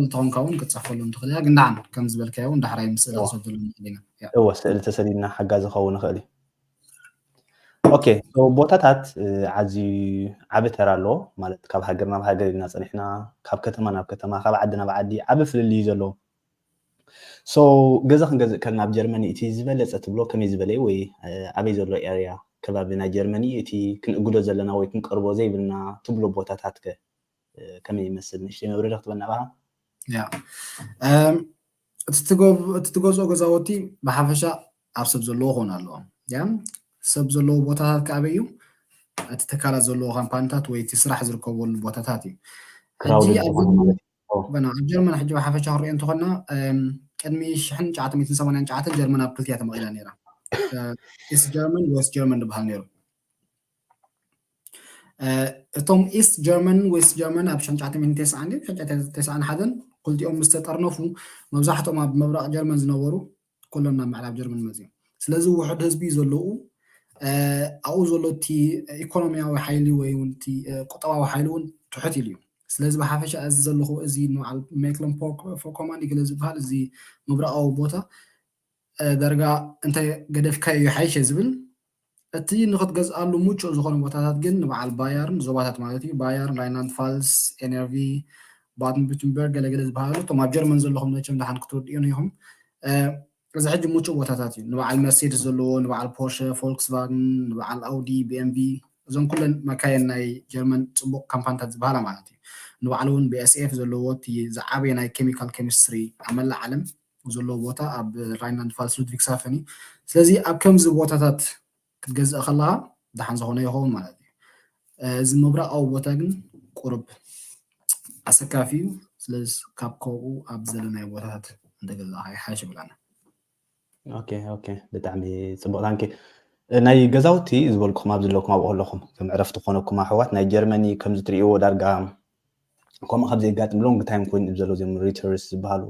እንተኾንካ እውን ክትፅሕፈሉ ንትኽእል እያ ግን ዳዓም ከም ዝበልካዮ እውን ዳሕራይ ምስ ስእሊ ክሰደሉ ንኽእል ኢና እወ ስእሊ ተሰዲድና ሓጋዚ ክኸውን ይኽእል እዩ ኦኬ ቦታታት ዓዝዩ ዓቢ ተራ ኣለዎ ማለት ካብ ሃገር ናብ ሃገር ኢልና ፀኒሕና ካብ ከተማ ናብ ከተማ ካብ ዓዲ ናብ ዓዲ ዓቢ ፍልልይ እዩ ዘለዎ ሶ ገዛ ክንገዝእ ከልና ኣብ ጀርመኒ እቲ ዝበለፀ ትብሎ ከመይ ዝበለ እዩ ወይ ኣበይ ዘሎ ኤርያ ከባቢ ናይ ጀርመኒ እቲ ክንእግዶ ዘለና ወይ ክንቀርቦ ዘይብልና ትብሎ ቦታታት ከ ከመይ ይመስል ንእሽተይ መብረሪ ክትበና ባ ያ እቲ ትገዝኦ ገዛወቲ ብሓፈሻ ኣብ ሰብ ዘለዎ ክኾን ኣለዎ ያ ሰብ ዘለዎ ቦታታት ከኣበይ እዩ እቲ ትካላት ዘለዎ ካምፓኒታት ወይ እቲ ስራሕ ዝርከበሉ ቦታታት እዩ ሕጂ ኣብ ጀርመን ሕጂ ብሓፈሻ ክንሪኦ እንተኾና ቅድሚ ሽሕን ሸዓተ ሚእትን ሰማንያን ሸዓተን ጀርመን ኣብ ክልቲያ ተመቒላ ነይራ ኢስት ጀርመን ወስት ጀርመን ዝበሃል ነይሩ እቶም ኢስት ጀርመን ዌስት ጀርመን ኣብ 991 ክልቲኦም ምስ ተጠርነፉ መብዛሕቶም ኣብ ምብራቕ ጀርመን ዝነበሩ ኩሎም ናብ ምዕራብ ጀርመን መፅዮም ስለዚ ውሕድ ህዝቢ ዘለዉ ኣብኡ ዘሎ እቲ ኢኮኖሚያዊ ሓይሊ ወይ እውን እቲ ቁጠባዊ ሓይሊ እውን ትሑት ኢሉ እዩ ስለዚ ብሓፈሻ እዚ ዘለኹ እዚ ንበዓል ሜክሎን ፎኮማን ይግለ ዝበሃል እዚ ምብራቓዊ ቦታ ዳርጋ እንተ ገደፍካዮ ይሓይሸ ዝብል እቲ ንኽትገዝኣሉ ምቹእ ዝኾነ ቦታታት ግን ንበዓል ባየርን፣ ዞባታት ማለት እዩ፣ ባየርን፣ ራይንላንድ-ፋልስ፣ NRV፣ ባድን-ቡርተንበርግ ገለ ገለ ዝበሃሉ እቶም ኣብ ጀርመን ዘለኹም መቸም ደሓን ክትርድኡኒ ኢኹም። እዚ ሕጂ ምቹእ ቦታታት እዩ። ንበዓል መርሴድስ ዘለዎ፣ ንበዓል ፖርሸ፣ ፎልክስቫግን፣ ንበዓል ኣውዲ፣ BMW እዘን ኩለን መካይን ናይ ጀርመን ጽቡቕ ካምፓንታት ዝበሃላ ማለት እዩ። ንበዓሉ እውን BASF ዘለዎ እቲ ዝዓበየ ናይ ኬሚካል ኬሚስትሪ ኣብ መላእ ዓለም፣ ዘለዎ ቦታ ኣብ ራይንላንድ ፋልስ ሉድቪግሳፈን እዩ ስለዚ ኣብ ከምዚ ቦታታት ክትገዝእ ከለካ ድሓን ዝኮነ ይኸውን ማለት እዩ እዚ ምብራቃዊ ቦታ ግን ቁርብ ኣሰካፊ እዩ ስለዚ ካብ ከብኡ ኣብ ዘለናዮ ቦታታት እንተገዛእካ ይሓሽ ይብላና ኦኬ ኦኬ ብጣዕሚ ፅቡቅ ታንኪ ናይ ገዛውቲ ዝበልኩም ኣብ ዘለኩም ኣብኡ ኣለኹም ከም ዕረፍቲ ኮነኩም ኣሕዋት ናይ ጀርመኒ ከምዚ ትርእይዎ ዳርጋ ከምኡ ካብ ዘጋጥም ሎንግ ታይም ኮይኑ ዘሎ ዚም ሪተርስ ዝበሃሉ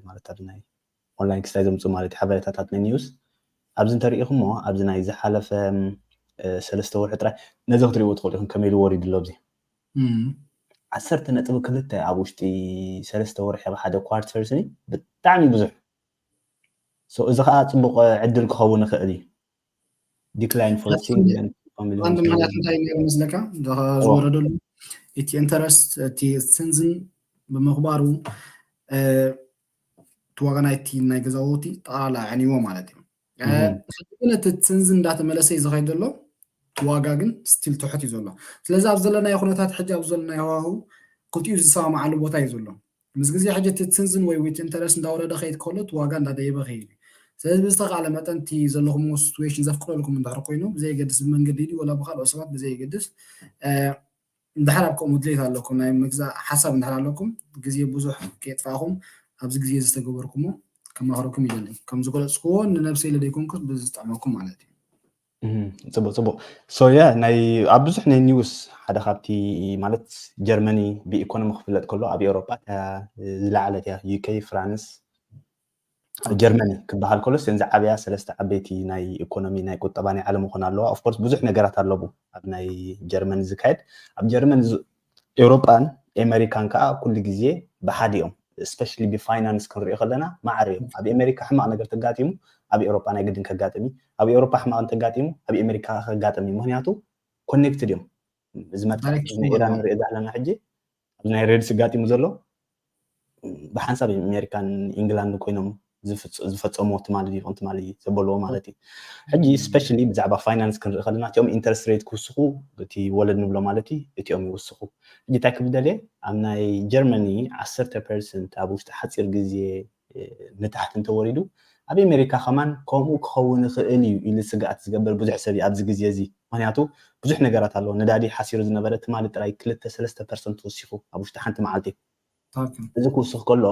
ማለት ኣብ ናይ ኦንላይን ክስታይ ዘምፅኡ ማለት ሓበሬታታት ናይ ኒውስ ኣብዚ እንተሪኢኹሞ ኣብዚ ናይ ዝሓለፈ ሰለስተ ወርሒ ጥራይ ነዚ ክትሪእዎ ትኽእሉ ኢኹም ከመይ ኢሉ ወሪዱ ኣሎ ዚ ዓሰርተ ነጥቢ ክልተ ኣብ ውሽጢ ሰለስተ ወርሒ ኣብ ሓደ ኳርተር ስኒ ብጣዕሚ ብዙሕ እዚ ከዓ ፅቡቅ ዕድል ክኸውን ይኽእል እዩ ዲክላይን ፎርሲንግ ቀንዲ ምክንያት እንታይ እዩ ነይሩ መስለካ ዝወረደሉ እቲ ኢንተረስት እቲ ስንዝን ብምኽባሩ እቲ ዋጋ ናይቲ ናይ ገዛውቲ ጠቕላላ ኣዕንይዎ ማለት እዩ ግን እቲ ስንዚ እንዳተመለሰ እዩ ዝኸይድ ዘሎ ዋጋ ግን ስቲል ትሑት እዩ ዘሎ ስለዚ ኣብ ዘለናዮ ኩነታት ሕጂ ኣብ ዘለናዮ ሃዋህው ክልቲኡ ዝሰማማዓሉ ቦታ እዩ ዘሎ ምስ ግዜ ሕጂ እቲ ትንዝን ወይ ዊት ኢንተረስት እንዳወረደ ክኸይድ ከሎ እቲ ዋጋ እንዳደየበ ክይድ እዩ ስለዚ ብዝተካእለ መጠን እቲ ዘለኹምዎ ስቱዌሽን ዘፍቅደልኩም እንድሕር ኮይኑ ብዘየገድስ ብመንገዲ ድዩ ወላ ብካልኦት ሰባት ብዘየገድስ እንድሕር ኣብ ከምኡ ድሌት ኣለኩም ናይ ምግዛእ ሓሳብ እንድሕር ኣለኩም ግዜ ብዙሕ ከየጥፋእኹም ኣብዚ ግዜ እዚ ዝተገበርኩሞ ከማኽረኩም ይደሊ ከም ዝገለጽኩዎ ንነብሰይ ለደይኮንኩስ ብዝጥዕመኩም ማለት እዩ ፅቡቅ ፅቡቅ ሶየ ናይ ኣብ ብዙሕ ናይ ኒውስ ሓደ ካብቲ ማለት ጀርመኒ ብኢኮኖሚ ክፍለጥ ከሎ ኣብ ኤውሮጳ ዝለዓለት እያ ዩኬ ፍራንስ ጀርመኒ ክበሃል ከሎ እዘን ዝዓበያ ሰለስተ ዓበይቲ ናይ ኢኮኖሚ ናይ ቁጠባ ናይ ዓለም ክኾና ኣለዋ ኦፍኮርስ ብዙሕ ነገራት ኣለዎ ኣብ ናይ ጀርመን ዝካየድ ኣብ ጀርመን ኤውሮጳን ኤመሪካን ከኣ ኩሉ ግዜ ብሓደ እዮም ስፐሻሊ ብፋይናንስ ክንሪኦ ከለና ማዕረ እዮም ኣብ ኤመሪካ ሕማቕ ነገር ተጋጢሙ ኣብ ኤውሮጳ ናይ ግድን ከጋጥም እዩ ኣብ ኤውሮጳ ሕማቕ እንተጋጢሙ ኣብ ኤመሪካ ከጋጥም እዩ ምክንያቱ ኮኔክትድ እዮም እዚ መጥቃዕቲ ናይ ኢራን ንሪኦ ዘለና ሕጂ ናይ ሬድሲ ጋጢሙ ዘሎ ብሓንሳብ እዩ ኣሜሪካን ኢንግላንድን ኮይኖም ዝፈፀምዎ ትማሊ ድዩ ትማሊ ዘበልዎ ማለት እዩ ሕጂ ስፔሻሊ ብዛዕባ ፋይናንስ ክንርኢ ከለና እቲኦም ኢንተረስት ሬት ክውስኹ እቲ ወለድ ንብሎ ማለት እዩ እቲኦም ይውስኹ ሕጂ እንታይ ክብደልየ ኣብ ናይ ጀርመኒ ዓሰርተ ፐርሰንት ኣብ ውሽጢ ሓፂር ግዜ ንታሕቲ እንተወሪዱ ኣብ ኤመሪካ ከማን ከምኡ ክኸውን ይኽእል እዩ ኢሉ ስግኣት ዝገብር ብዙሕ ሰብ እዩ ኣብዚ ግዜ እዚ ምኽንያቱ ብዙሕ ነገራት ኣሎ ነዳዲ ሓሲሩ ዝነበረ ትማሊ ጥራይ ክልተ ሰለስተ ፐርሰንት ወሲኹ ኣብ ውሽጢ ሓንቲ መዓልቲ እዚ ክውስኽ ከሎ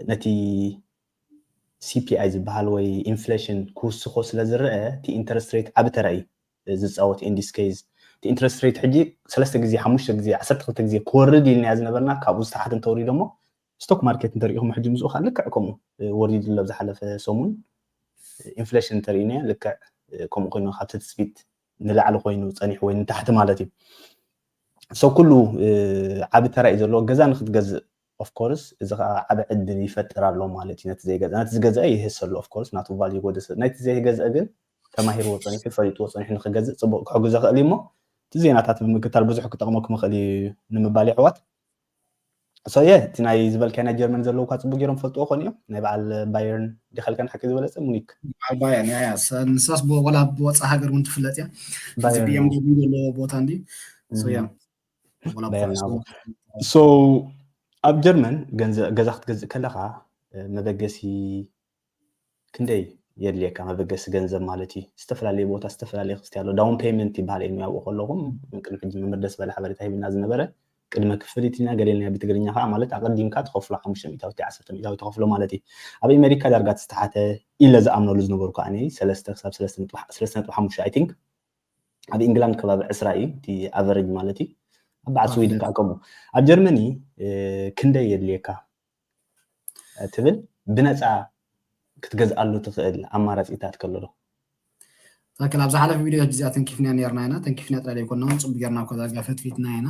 ነቲ ሲፒኣይ ዝበሃል ወይ ኢንፍሌሽን ክውስኾ ስለ ዝረአ እቲ ኢንተረስት ሬት ዓቢ ተራ እዩ ዝፃወት ኢንዲስ ኬዝ እቲ ኢንተረስት ሬት ሕጂ ሰለስተ ግዜ ሓሙሽተ ግዜ ዓሰርተ ክልተ ግዜ ክወርድ ኢልናዮ ዝነበርና ካብኡ ዝተሓተ እንተወሪዶ እሞ ስቶክ ማርኬት እንተሪኢኹም ሕጂ ምስኡ ከዓ ልክዕ ከምኡ ወሪዱ ኣሎ ዝሓለፈ ሰሙን ኢንፍሌሽን እንተሪኢናዮ ልክዕ ከምኡ ኮይኑ ካብቲ ትፅቢት ንላዕሊ ኮይኑ ፀኒሑ ወይ ንታሕቲ ማለት እዩ ሰው ኩሉ ዓቢ ተራ እዩ ዘለዎ ገዛ ንክትገዝእ ኦፍኮርስ እዚ ከዓ ዓቢ ዕድል ይፈጥር ኣሎ ማለት እዩ ነቲ ዘይገዛ ነቲ ዝገዝአ ይህሰ ኣሎ ኦፍኮርስ ናቱ ቫል ይጎደሰ ናይቲ ዘይገዝአ ግን ተማሂርዎ ፀኒሑ ፈሊጥዎ ፀኒሑ ንክገዝእ ፅቡቅ ክሕግዞ ይኽእል እዩ እሞ እቲ ዜናታት ብምክታል ብዙሕ ክጠቕመኩም ይኽእል እዩ ንምባል ይሕዋት ሰየ እቲ ናይ ዝበልካይ ናይ ጀርመን ዘለዉ እኳ ፅቡቅ ገይሮም ፈልጥዎ ኮን እዮም ናይ በዓል ባየርን ዲኸልካን ሓቂ ዝበለፀ ሙኒክ በዓል ባየርን እያ ንሳስ ወላ ብወፃ ሃገር እውን ትፍለጥ እያ እዚ ብኤም ደብሊው ዘለዎ ቦታ እንዲ ሰያ ሶ ኣብ ጀርመን ገዛ ክትገዝእ ከለካ መበገሲ ክንደይ የድልየካ መበገሲ ገንዘብ ማለት እዩ ዝተፈላለየ ቦታ ዝተፈላለየ ክስቲ ኣሎ ዳውን ፔመንት ይበሃል እዩ ያውቁ ከለኹም ቅድሚ ሕጂ መምህር ደስ በለ ሓበሬታ ሂብና ዝነበረ ቅድመ ክፍሊት ኢና ገሌና ብትግርኛ ከዓ ማለት ኣቐዲምካ ተኸፍሎ ሓሙሽተ ሚእታዊት ዓሰርተ ሚእታዊት ተኸፍሎ ማለት እዩ ኣብ ኣሜሪካ ዳርጋ ተስተሓተ ኢለ ዝኣምነሉ ዝነበሩ ከዓ እኔ ሰለስተ ክሳብ ሰለስተ ነጥቢ ሰለስተ ነጥቢ ሓሙሽተ ኣይ ቲንክ ኣብ ኢንግላንድ ከባቢ ዕስራ እዩ እቲ ኣቨሬጅ ማለት እዩ ኣብ በዓል ስዊድን ከዓ ከምኡ ኣብ ጀርመኒ ክንደይ የድልየካ ትብል ብነጻ ክትገዝኣሉ ትኽእል ኣማራጺታት ከሎ ዶ? ትክክል ኣብ ዝሓለፈ ቪድዮ እዚኣ ተንኪፍና ነርና ኢና ተንኪፍና ጥራይ ዘይኮና እውን ፅቡቅ ጌርና እኳ ዳርጋ ፈትፊትና ኢና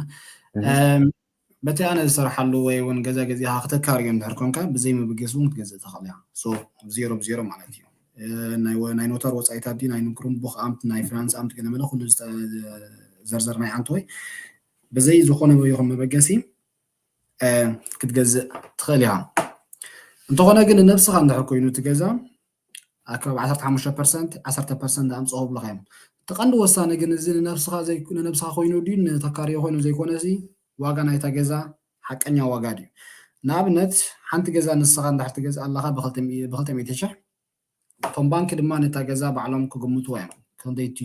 በቲ ኣነ ዝሰርሓሉ ወይ እውን ገዛ ገዚኻ ክተካርዮ እንድሕር ኮንካ ብዘይ ምብገስ እውን ክትገዝእ ትኽእል እያ ሶ ዜሮ ብዜሮ ማለት እዩ ናይ ኖታር ወፃኢታት ድዩ ናይ ንክሩም ቡክ ኣምት ናይ ፍራንስ ኣምት ገለመለ ኩሉ ዘርዘር ናይ ኣንተ ወይ ብዘይ ዝኾነ ይኹን መበገሲ ክትገዝእ ትኽእል ኢኻ እንተኾነ ግን ንነብስኻ እንድሕር ኮይኑ እቲ ገዛ ኣከባቢ 15 ፐርሰንት 10 ፐርሰንት ኣምፅኦ ብለኻ እዮም እቲ ቀንዲ ወሳኒ ግን እዚ ንነብስኻ ንነብስኻ ኮይኑ ድዩ ንተካርዮ ኮይኑ ዘይኮነ እዚ ዋጋ ናይታ ገዛ ሓቀኛ ዋጋ ድዩ ንኣብነት ሓንቲ ገዛ ንስኻ እንድሕር ትገዝእ ኣለኻ ብክልተ ሚእቲ ሽሕ እቶም ባንኪ ድማ ነታ ገዛ ባዕሎም ክግምትዋ እዮም ክንደይ እቲ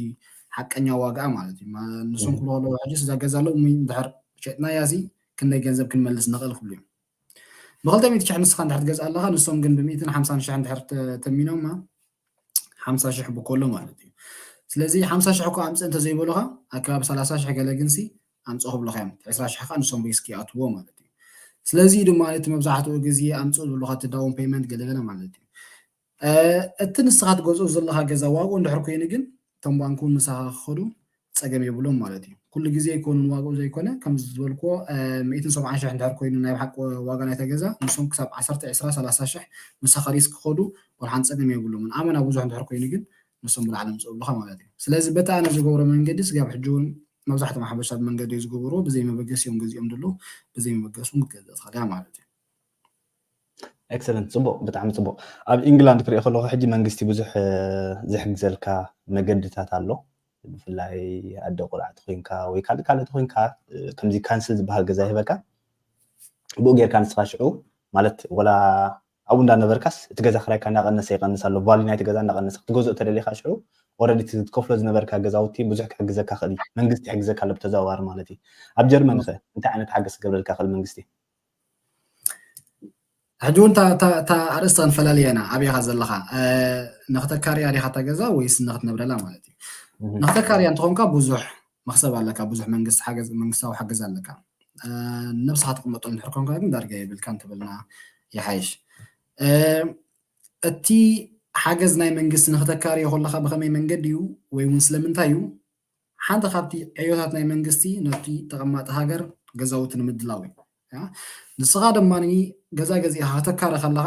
ሓቀኛ ዋግኣ ማለት እዩ ንሶም ክብሉ ከለዉ ሕጂስ እዛ ገዛ ሎሚ እንድሕር ሸጥናያሲ ክንደይ ገንዘብ ክንመልስ ንኽእል ክብሉ እዮም ብክልተ ሚእቲ ሽሕ ንስኻ እንድሕር ትገዝኣ ኣለኻ ንሶም ግን ብሚእትን ሓምሳን ሽሕ እንድሕር ተሚኖማ ሓምሳ ሽሕ ብኮሎ ማለት እዩ ስለዚ ሓምሳ ሽሕ እኮ ኣምፅእ እንተዘይበሉኻ ኣከባቢ ሰላሳ ሽሕ ገለ ግንሲ ኣምጽኡ ክብሉኻ እዮም እቲ ዕስራ ሽሕ ከኣ ንሶም ሪስክ ይኣትዎ ማለት እዩ ስለዚ እዩ ድማ እቲ መብዛሕትኡ ግዜ ኣምጽኡ ዝብሉኻ እቲ ዳውን ፔመንት ገለገለ ማለት እዩ እቲ ንስኻ ትገዝኦ ዘለኻ ገዛ ዋግኡ እንድሕር ኮይኑ ግን እቶም ባንክ እውን ምሳኻ ክኸዱ ፀገም የብሎም ማለት እዩ ኩሉ ግዜ ይኮኑን ዋግኡ ዘይኮነ ከም ዝበልክዎ ሚእትን ሰብዓን ሽሕ እንድሕር ኮይኑ ናይ ብሓቂ ዋጋ ናይታ ገዛ ንሶም ክሳብ ዓሰርተ ዕስራ ሰላሳ ሽሕ ምሳኻ ሪስ ክኸዱ ወልሓን ፀገም የብሎምን ኣመና ብዙሕ እንድሕር ኮይኑ ግን ንሶም ብላዕሊ ምፅኡ ኣለኻ ማለት እዩ ስለዚ በቲ ኣነ ዝገብሮ መንገዲ ስጋብ ሕጂ እውን መብዛሕቶም ሓበሻ ብመንገዲ ዝግብሩ ብዘይ መበገሲ እዮም ገዚኦም ድሉ ብዘይ መበገሲ ውን ክትገዝእ ትኽእል እያ ማለት እዩ። Excellent ጽቡቅ ብጣዕሚ ጽቡቅ ኣብ ኢንግላንድ ክሪኦ ከለኩ ሕጂ መንግስቲ ብዙሕ ዝሕግዘልካ መገድታት ኣሎ ብፍላይ ኣደ ቁልዓ ተኮይንካ ወይ ካልእ ካልእ ተኮይንካ ከምዚ ካንስል ዝበሃል ገዛ ይህበካ ብኡ ጌርካ ንስካ ሽዑ ማለት ወላ ኣብኡ እንዳነበርካስ እቲ ገዛ ክራይካ እንዳቀነሰ ይቀንስ ኣሎ ቫልዩ ናይቲ ገዛ እንዳቀነሰ ክትገዝኦ እተደሊካ ሽዑ ኦረዲ እቲ ትከፍሎ ዝነበርካ ገዛውቲ ብዙሕ ክሕግዘካ ክእል እዩ መንግስቲ ይሕግዘካ ኣሎ ብተዘዋዋሪ ማለት እዩ ኣብ ጀርመን ከ እንታይ ዓይነት ሓገዝ ክገብረልካ ክእል መንግስቲ ሕጂ እውን እታ ኣርእስቲ ክንፈላለያ ኢና ኣበይ ኢኻ ዘለኻ ንክተካርያ ዲኻ እታ ገዛ ወይስ ንክትነብረላ ማለት እዩ ንክተካርያ እንትኾንካ ብዙሕ መኽሰብ ኣለካ ብዙሕ መንግስቲ ሓገዝ መንግስታዊ ሓገዝ ኣለካ ንነብስኻ ትቕመጦ እንድሕር ኮንካ ግን ዳርጋ የብልካን ተበልና ይሓይሽ እቲ ሓገዝ ናይ መንግስቲ ንክተካርዮ ከለካ ብከመይ መንገዲ እዩ ወይ እውን ስለምንታይ እዩ ሓንቲ ካብቲ ዕዮታት ናይ መንግስቲ ነቲ ተቐማጢ ሃገር ገዛውቲ ንምድላው እዩ ንስኻ ድማ ገዛ ገዚእኻ ከተካሪ ከለኻ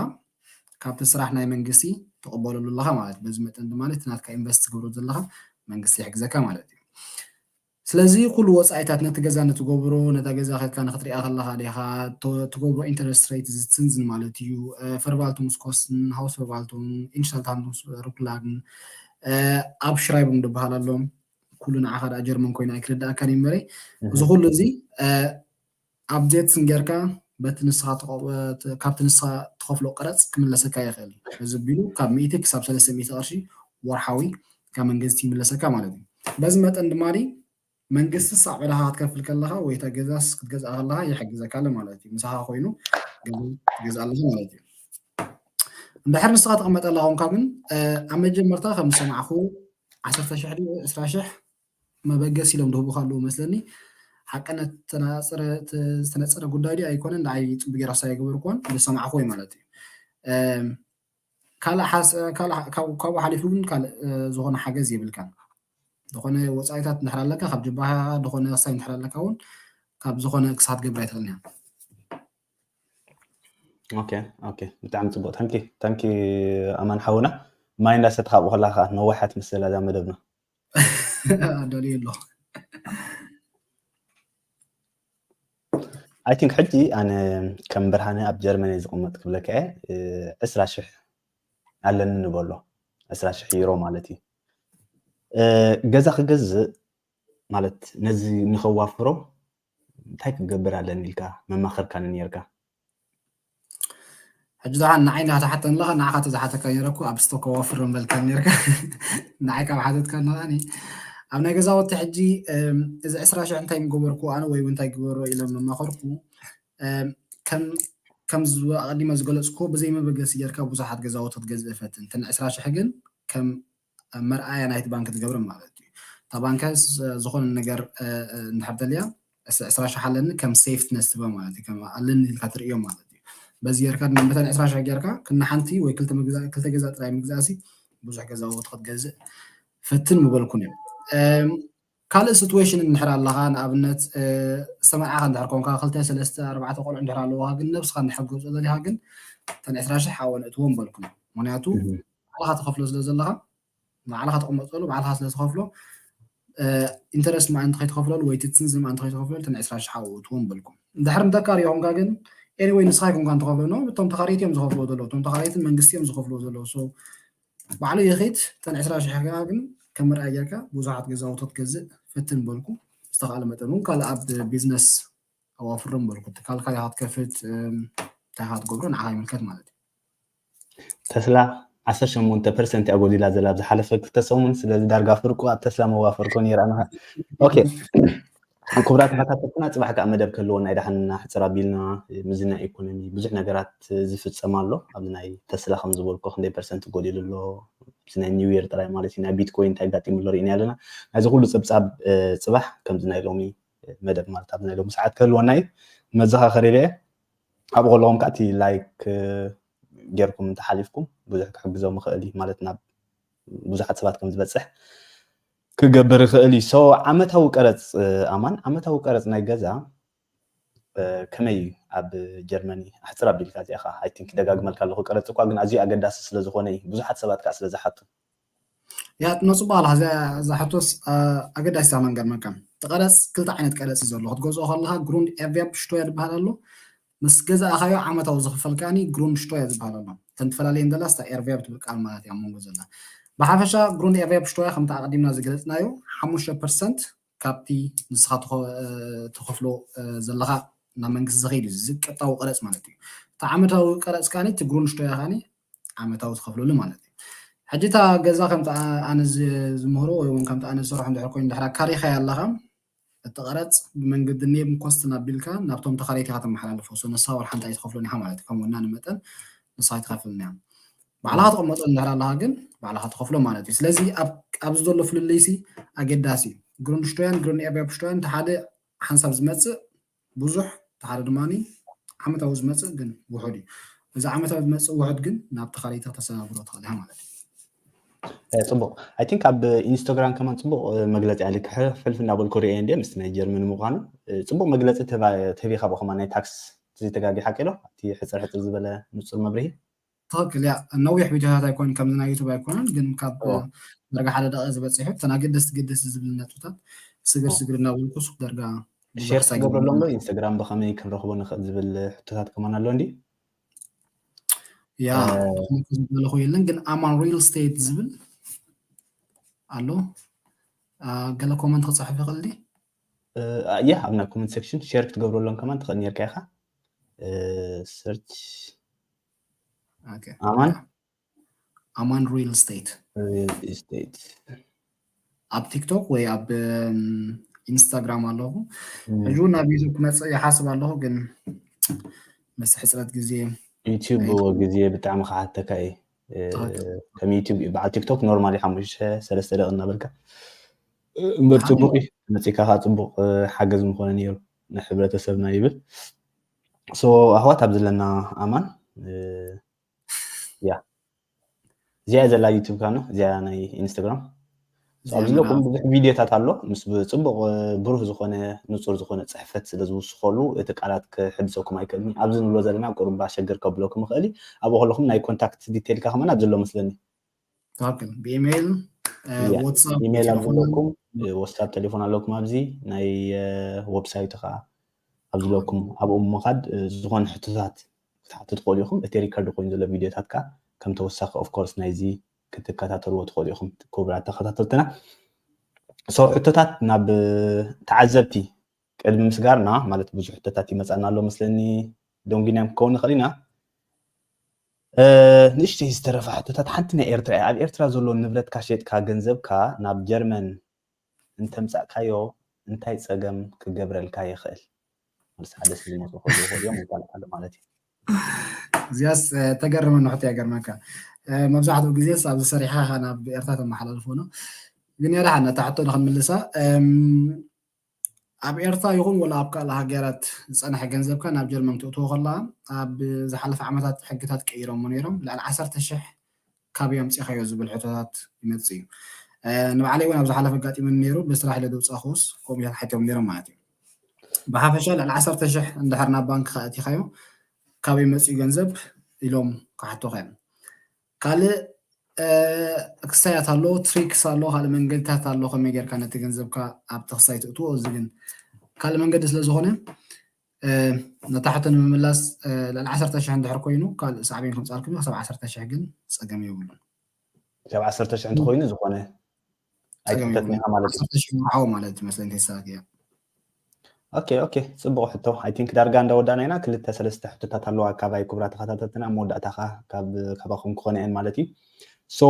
ካብቲ ስራሕ ናይ መንግስቲ ትቕበለሉ ኣለኻ ማለት እዩ በዚ መጠን ድማ እቲ ናትካ ኢንቨስት ትገብሮ ዘለኻ መንግስቲ ይሕግዘካ ማለት እዩ ስለዚ ኩሉ ወፃኢታት ነቲ ገዛ ንትገብሮ ነታ ገዛ ከድካ ንክትሪኣ ከለኻ ዲኻ ትገብሮ ኢንተረስት ሬት ዝትንዝን ማለት እዩ ፈርቫልቱንስኮስን ሃውስ ፈርቫልቱን ኢንሻልታንዱንስ ሩክላግን ኣብ ሽራይብም ድበሃል ኣሎ ኩሉ ንዓኻ ደኣ ጀርመን ኮይኑ ኣይክርዳእካን እዩ መለይ እዚ ኩሉ እዚ ኣብዴት እንጌርካ በቲ ንስኻ ካብቲ ንስኻ ትኸፍሎ ቀረጽ ክምለሰካ ይኽእል እዩ። በዚ ኣቢሉ ካብ ሚእቲ ክሳብ ሰለስተ ሚእቲ ቅርሺ ወርሓዊ ካብ መንገዝቲ ይምለሰካ ማለት እዩ። በዚ መጠን ድማ መንግስትስ ኣብ ዕዳኻ ክትከፍል ከለኻ ወይ እታ ገዛስ ክትገዝኣ ከለኻ ይሕግዘካለ ማለት እዩ። ምሳኻ ኮይኑ ገዛ ትገዝእ ኣለኻ ማለት እዩ። እንድሕር ንስኻ ትቕመጠላ ኮንካ ግን ኣብ መጀመርታ ከም ዝሰማዕኩ ዓሰርተ ሽሕ ድዩ ዕስራ ሽሕ መበገሲ ኢሎም ድህቡካ ኣለዉ መስለኒ ሓቅነት ዝተናጸረ ዝተነጸረ ጉዳይ ድዩ ኣይኮነን ንዓይ ጽቡቅ ጌራ ሳይ ኣይገበርኩዎን ዝሰማዕኩዎ እዩ ማለት እዩ ካልእ ካብኡ ሓሊፉ ግን ካልእ ዝኾነ ሓገዝ የብልካን ዝኾነ ወፃኢታት እንድሕር ኣለካ ካብ ጀባሃ ዝኾነ ክሳብ እንድሕር ኣለካ እውን ካብ ዝኾነ ክሳብ ትገብር ኣይትኽእልን እያ ኦኬ ኦኬ ብጣዕሚ ፅቡቅ ታንኪ ታንኪ ኣማን ሓውና ማይ እንዳሰትካ ኣብኡ ከለካ ነዋሓት መሰል እዛ መደብና ኣዳልየ ኣለኹ ኣይ ቲንክ ሕጂ ኣነ ከም ብርሃነ ኣብ ጀርመን እየ ዝቕመጥ ክብለካ እየ ዕስራ ሽሕ ኣለኒ ንበሎ ዕስራ ሽሕ ዩሮ ማለት እዩ ገዛ ክገዝእ ማለት ነዚ ንኸዋፍሮ እንታይ ክገብር ኣለኒ ኢልካ መማኸርካኒ ኔርካ። ሕጂ ዝሓ ንዓይ እንዳ ትሓተኒ ኣለኻ ንዓኻ ተዝሓተካ ነይረ እኮ ኣብ ስቶኮ ወፍር ምበልካኒ ኔርካ ንዓይ ካብ ሓተትካ ነቓኒ ኣብ ናይ ገዛወቲ ሕጂ እዚ ዕስራ ሽሕ እንታይ ምገበርኩ ኣነ ወይ እውን እንታይ ግበሮ ኢሎም መማኸርኩ ከም ከም ኣቐዲመ ዝገለፅኩዎ ብዘይ መበገሲ ጌርካ ብዙሓት ገዛውቲ ክትገዝእ ፈትን እተን ዕስራ ሽሕ ግን ከም መርኣያ ናይቲ ባንኪ ትገብረን ማለት እዩ። እታ ባንኪ ዝኾነ ነገር እንድሕር ተልያ ዕስራ ሽሕ ኣለኒ ከም ሴፍት ነስ ትህባ ማለት እዩ። ከም ኣለኒ ኢልካ ትርእዮ ማለት እዩ። በዚ ጌርካ ድማ መታን ዕስራ ሽሕ ጌርካ ክናሓንቲ ወይ ክልተ ገዛ ጥራይ ምግዛእሲ ብዙሕ ገዛውቲ ክትገዝእ ፈትን ምበልኩን እዮም። ካልእ ስቱዌሽን እንድሕር ኣለኻ ንኣብነት ዝተመርዓኻ እንድሕር ኮንካ ክልተ ሰለስተ ኣርባዕተ ቆልዑ እንድሕር ኣለዉኻ ግን ነብስኻ እንድሕር ክትገብጾ ዘለኻ ግን እተን ዕስራ ሽሕ ኣብኡ ነእትዎ ምበልኩን ምክንያቱ ባዕልኻ ትኸፍሎ ስለ ዘለኻ ባዕልኻ ተቐመጥሉ ባዕልኻ ስለ ትኸፍሎ ኢንተረስት ምኣንቲ ከይትኸፍለሉ ወይ ትትንዝ ምኣንቲ ከይትኸፍለሉ እተን ዕስራ ሽሓ ውእትዎ ምበልኩም እንድሕር ንተካሪ ይኹምካ ግን ኤኒወይ ንስኻ ይኩንካ እንትኸፍለሉ እቶም ተኻሪት እዮም ዝኸፍልዎ ዘለዉ እቶም ተኻሪትን መንግስቲ እዮም ዝኸፍልዎ ዘለዉ ባዕሉ የኺት ጠን ዕስራ ሽሕ ከኣ ግን ከም መርኣያ ጌርካ ብዙሓት ገዛውቶ ክትገዝእ ፈትን በልኩ ዝተኻእለ መጠን እውን ካልእ ኣብ ቢዝነስ ኣዋፍሮም በልኩ ትካልካ ኢኻ ክትከፍት እንታይ ኢኻ ትገብሮ ንዓኻ ይምልከት ማለት እዩ ተስላ ዓሰርተ ሸሞንተ ፐርሰንት እያ ጎዲላ ዘላ ኣብ ዝሓለፈ ክልተ ሰሙን ስለዚ ዳርጋ ፍርቁ ኣብ ተስላ መዋፈርኮ ነይራ ኦኬ ክቡራት ተሓታተትና ፅባሕ ከዓ መደብ ክህልዎ ናይ ዳሕንና ሕፅር ኣቢልና ምዚ ናይ ኢኮኖሚ ብዙሕ ነገራት ዝፍፀም ኣሎ ኣብዚ ናይ ተስላ ከም ዝበልኮ ክንደይ ፐርሰንት ጎዲሉ ኣሎ ኣብዚ ናይ ኒው የር ጥራይ ማለት እዩ ናይ ቢትኮይን እንታይ ኣጋጢሙ ኣሎ ርኢና ኣለና ናይዚ ኩሉ ፅብፃብ ፅባሕ ከምዚ ናይ ሎሚ መደብ ማለት ኣብዚ ናይ ሎሚ ሰዓት ክህልወና እዩ መዘኻኸሪ ኢለ ኣብኡ ከለኹም ከዓ እቲ ላይክ ጌርኩም እንተሓሊፍኩም ብዙሕ ክሕግዞም ይኽእል እዩ ማለት ናብ ብዙሓት ሰባት ከም ዝበፅሕ ክገብር ይኽእል እዩ። ሶ ዓመታዊ ቀረጽ ኣማን ዓመታዊ ቀረጽ ናይ ገዛ ከመይ እዩ ኣብ ጀርመኒ ኣሕጽር ኣቢልካ እዚኣ ከኣ ኣይ ቲንክ ደጋግመልካ ኣለኹ ቀረጽ እኳ ግን ኣዝዩ ኣገዳሲ ስለ ዝኾነ እዩ ብዙሓት ሰባት ከኣ ስለ ዝሓቱ ያ ትመጽእ በኋላ እዛ ሕቶስ ኣገዳሲት ኣማን ገርመካ እቲ ቀረጽ ክልተ ዓይነት ቀረጽ እዩ ዘሎ ክትገዝኦ ከለካ ግሩንድ ኤርቬርፕ ሽቶያ ዝበሃል ኣሎ ምስ ገዛእካዮ ዓመታዊ ዝኽፈልካኒ Grundsteuer ዝበሃል ኣሎ። እተን ትፈላልየን ዘላ ስታ ኤርቬርብ ትብል ቃል ማላት እያ ኣብ መንጎ ዘላ። ብሓፈሻ Grunderwerbsteuer ከምቲ ኣቐዲምና ዝገለጽናዮ ሓሙሽተ ፐርሰንት ካብቲ ንስኻ ትኸፍሎ ዘለኻ ናብ መንግስቲ ዝኸይድ እዩ። እዚ ቀጥታዊ ቀረጽ ማለት እዩ። እቲ ዓመታዊ ቀረጽ ካኒ እቲ Grundsteuer ካኒ ዓመታዊ ትኸፍለሉ ማለት እዩ። ሕጂ እታ ገዛ ከምቲ ኣነ ዝምህሮ ወይ እውን ከምቲ ኣነ ዝሰርሖ እንድሕር ኮይኑ ድሕር ካሪኻያ ኣለኻ እቲ ቀረጽ ብመንገዲ ኔብን ኮስትን ኣቢልካ ናብቶም ተኻረይቲ ኢኻ ተመሓላልፎ so ንስኻ ወርሓ እንታይ ትኸፍሎን ኢኻ ማለት እዩ ከም ወናኒ መጠን ንስኻ ኣይትኸፍልን እያ ባዕልኻ ትቕመጦ እንድሕር ኣለኻ ግን ባዕልኻ ትኸፍሎ ማለት እዩ ስለዚ ኣብዚ ዘሎ ፍልልይሲ ኣገዳሲ እዩ ግሩንድሽቶያን ግሩንኤርቢያብሽቶያን እቲ ሓደ ሓንሳብ ዝመጽእ ብዙሕ እቲ ሓደ ድማ ዓመታዊ ዝመፅእ ግን ውሑድ እዩ። እዚ ዓመታዊ ዝመፅእ ውሑድ ግን ናብ ተኻሊ ተተሰጋግሮ ትኽእል ኢኻ ማለት እዩ። ፅቡቅ ኣይ ቲንክ ኣብ ኢንስታግራም ከማን ፅቡቅ መግለፂ ኣለ ክሕልፍ እናበልኩ ርኤ እንደ ምስ ናይ ጀርመን ምኳኑ ፅቡቅ መግለፂ ተቢኻ ብከማ ናይ ታክስ ዘይተጋጊ ሓቂ ዶ እቲ ሕፅር ሕፅር ዝበለ ንፁር መብርሂ ትክክል እያ ነዊሕ ቪድዮታት ኣይኮን ከምዚ ናይ ዩቱብ ኣይኮነን ግን ካብ ዳርጋ ሓደ ደቂቅ ዝበፂሑ እተን ኣገደስቲ ገደስቲ ዝብልን ነጥብታት ስግር ስግር እናበልኩ ሱቅ ዳርጋ ሼር ክትገብረሎም ዶ ኢንስታግራም ብከመይ ክንረክቦ ንክእል ዝብል ሕቶታት ከማን ኣሎ እንዲ ያ ዝበልኩ የለን ግን ኣማን ሪል ስቴት ዝብል ኣሎ ገለ ኮመንት ክፅሕፍ ይኽእል ዲ ያ ኣብ ናይ ኮመንት ሴክሽን ሼር ክትገብረሎም ከማን ትኽእል ነርካ ኢኻ ሰርች ኦኬ ኣማን ኣማን ሪል ስቴት ሪል ኢስቴት ኣብ ቲክቶክ ወይ ኣብ እም፣ ኢንስታግራም ኣለኹ ሕጂ እውን ናብ ዩቱብ ክመፅእ ይሓስብ ኣለኹ ግን ምስ ሕፅረት ግዜ ዩቲዩብ ብዎ ግዜ ብጣዕሚ ክሓተካ እዩ እ፣ ከም ዩቲዩብ እዩ በዓል ቲክቶክ ኖርማሊ ሓሙሽተ ሰለስተ ደቂ እናበልካ እ፣ እምበር ፅቡቅ እዩ መፂካ ከዓ ፅቡቅ እ፣ ሓገዝ ምኮነ ነይሩ ንሕብረተሰብና ይብል ሶ ኣሕዋት ኣብ ዘለና ኣማን ያ እዚኣ ዘላ ዩቱብ ካነ እዚኣ ናይ ኢንስታግራም ኣብዚ ዘለኩም ብዙሕ ቪድዮታት ኣሎ ምስ ፅቡቅ ብሩህ ዝኾነ ንፁር ዝኾነ ፅሕፈት ስለ ዝውስኸሉ እቲ ቃላት ክሕድሰኩም ኣይክእልኒ ኣብዚ ንብሎ ዘለና ቁርባ ሸግር ከብለኩም ይኽእል ኣብኡ ከለኹም ናይ ኮንታክት ዲቴልካ ከማን ኣብዚ ኣሎ መስለኒ ታክን ብኢሜይል ዋትሳፕ ኢሜይል ኣብ ዘለኩም ዋትሳፕ ቴሌፎን ኣለኩም ኣብዚ ናይ ወብሳይቱ ከዓ ኣብ ዝለኩም ኣብኡ ምኻድ ዝኾነ ሕቶታት ክትሓቱ ትኽእሉ ኢኹም እቲ ሪከርድ ኮይኑ ዘሎ ቪድዮታት ከዓ ከም ተወሳኺ ኦፍኮርስ ናይዚ ክትከታተልዎ ትኽእሉ ኢኹም ክቡራት ተኸታተልትና ሰው ሕቶታት ናብ ተዓዘብቲ ቅድሚ ምስጋርና ማለት ብዙሕ ሕቶታት ይመፃና ኣሎ መስለኒ ደንጒናዮም ክከውን ንኽእል ኢና ንእሽተይ ዝተረፋ ሕቶታት ሓንቲ ናይ ኤርትራ እያ ኣብ ኤርትራ ዘሎ ንብረትካ ሸጥካ ገንዘብካ ናብ ጀርመን እንተምፃእካዮ እንታይ ፀገም ክገብረልካ ይኽእል ምስ ሓደ ሰብ ዝመፁ ክህሉ ይኽእሉ እዮም ይባልዓሉ ማለት እዩ እዚኣስ ተገርመ ንሕቶ እያ ገርመካ መብዛሕትኡ ግዜ ኣብ ዝሰሪሕኻ ናብ ኤርትራ ተመሓላልፎ ነው ግን የዳሓና እታ ሕቶ ንክንምልሳ ኣብ ኤርትራ ይኹን ወላ ኣብ ካልእ ሃገራት ዝጸንሐ ገንዘብካ ናብ ጀርመን ክተእትዎ ከለኻ ኣብ ዝሓለፈ ዓመታት ሕግታት ቀይሮሞ ነይሮም ልዕሊ ዓሰርተ ሽሕ ካበይ ኣምጺኻዮ ዝብል ሕቶታት ይመጽእ እዩ ንባዕለይ እውን ኣብ ዝሓለፈ ኣጋጢሙኒ ነይሩ ብስራሕ ኢለ ዘውጻእኩስ ከምኡ እዮም ሓቲቶም ነይሮም ማለት እዩ ብሓፈሻ ልዕሊ ዓሰርተ ሽሕ እንድሕር ናብ ባንክ ከኣቲኻዮ ካበይ መጽኡ ገንዘብ ኢሎም ክሓቱኻ እዮም ካልእ ክሳያት ኣሎ ትሪክስ ኣሎ ካልእ መንገድታት ኣሎ ከመይ ጌርካ ነቲ ገንዘብካ ኣብቲ ክሳይ ትእትዎ እዚ ግን ካልእ መንገዲ ስለ ዝኾነ ነታ ሕቶ ንምምላስ ልዕሊ ዓሰርተ ሽሕ እንድሕር ኮይኑ ካልእ ሳዕቤን ከምፃልኩም ክሳብ ዓሰርተ ሽሕ ግን ፀገም የብሉን ክሳብ ዓሰርተ ሽሕ እንተኮይኑ ዝኾነ ኣይትተትኒኻ ማለት እዩ ሽምሓው ማለት መስለኝ ተሳት እያ ኦኬ ኦኬ ፅቡቅ ሕቶ ኣይ ቲንክ ዳርጋ እንዳወዳእና ኢና ክልተ ሰለስተ ሕቶታት ኣለዋ ካባይ ክብራ ተኸታተልትና መወዳእታ ከዓ ካባኹም ክኾነ እየን ማለት እዩ ሶ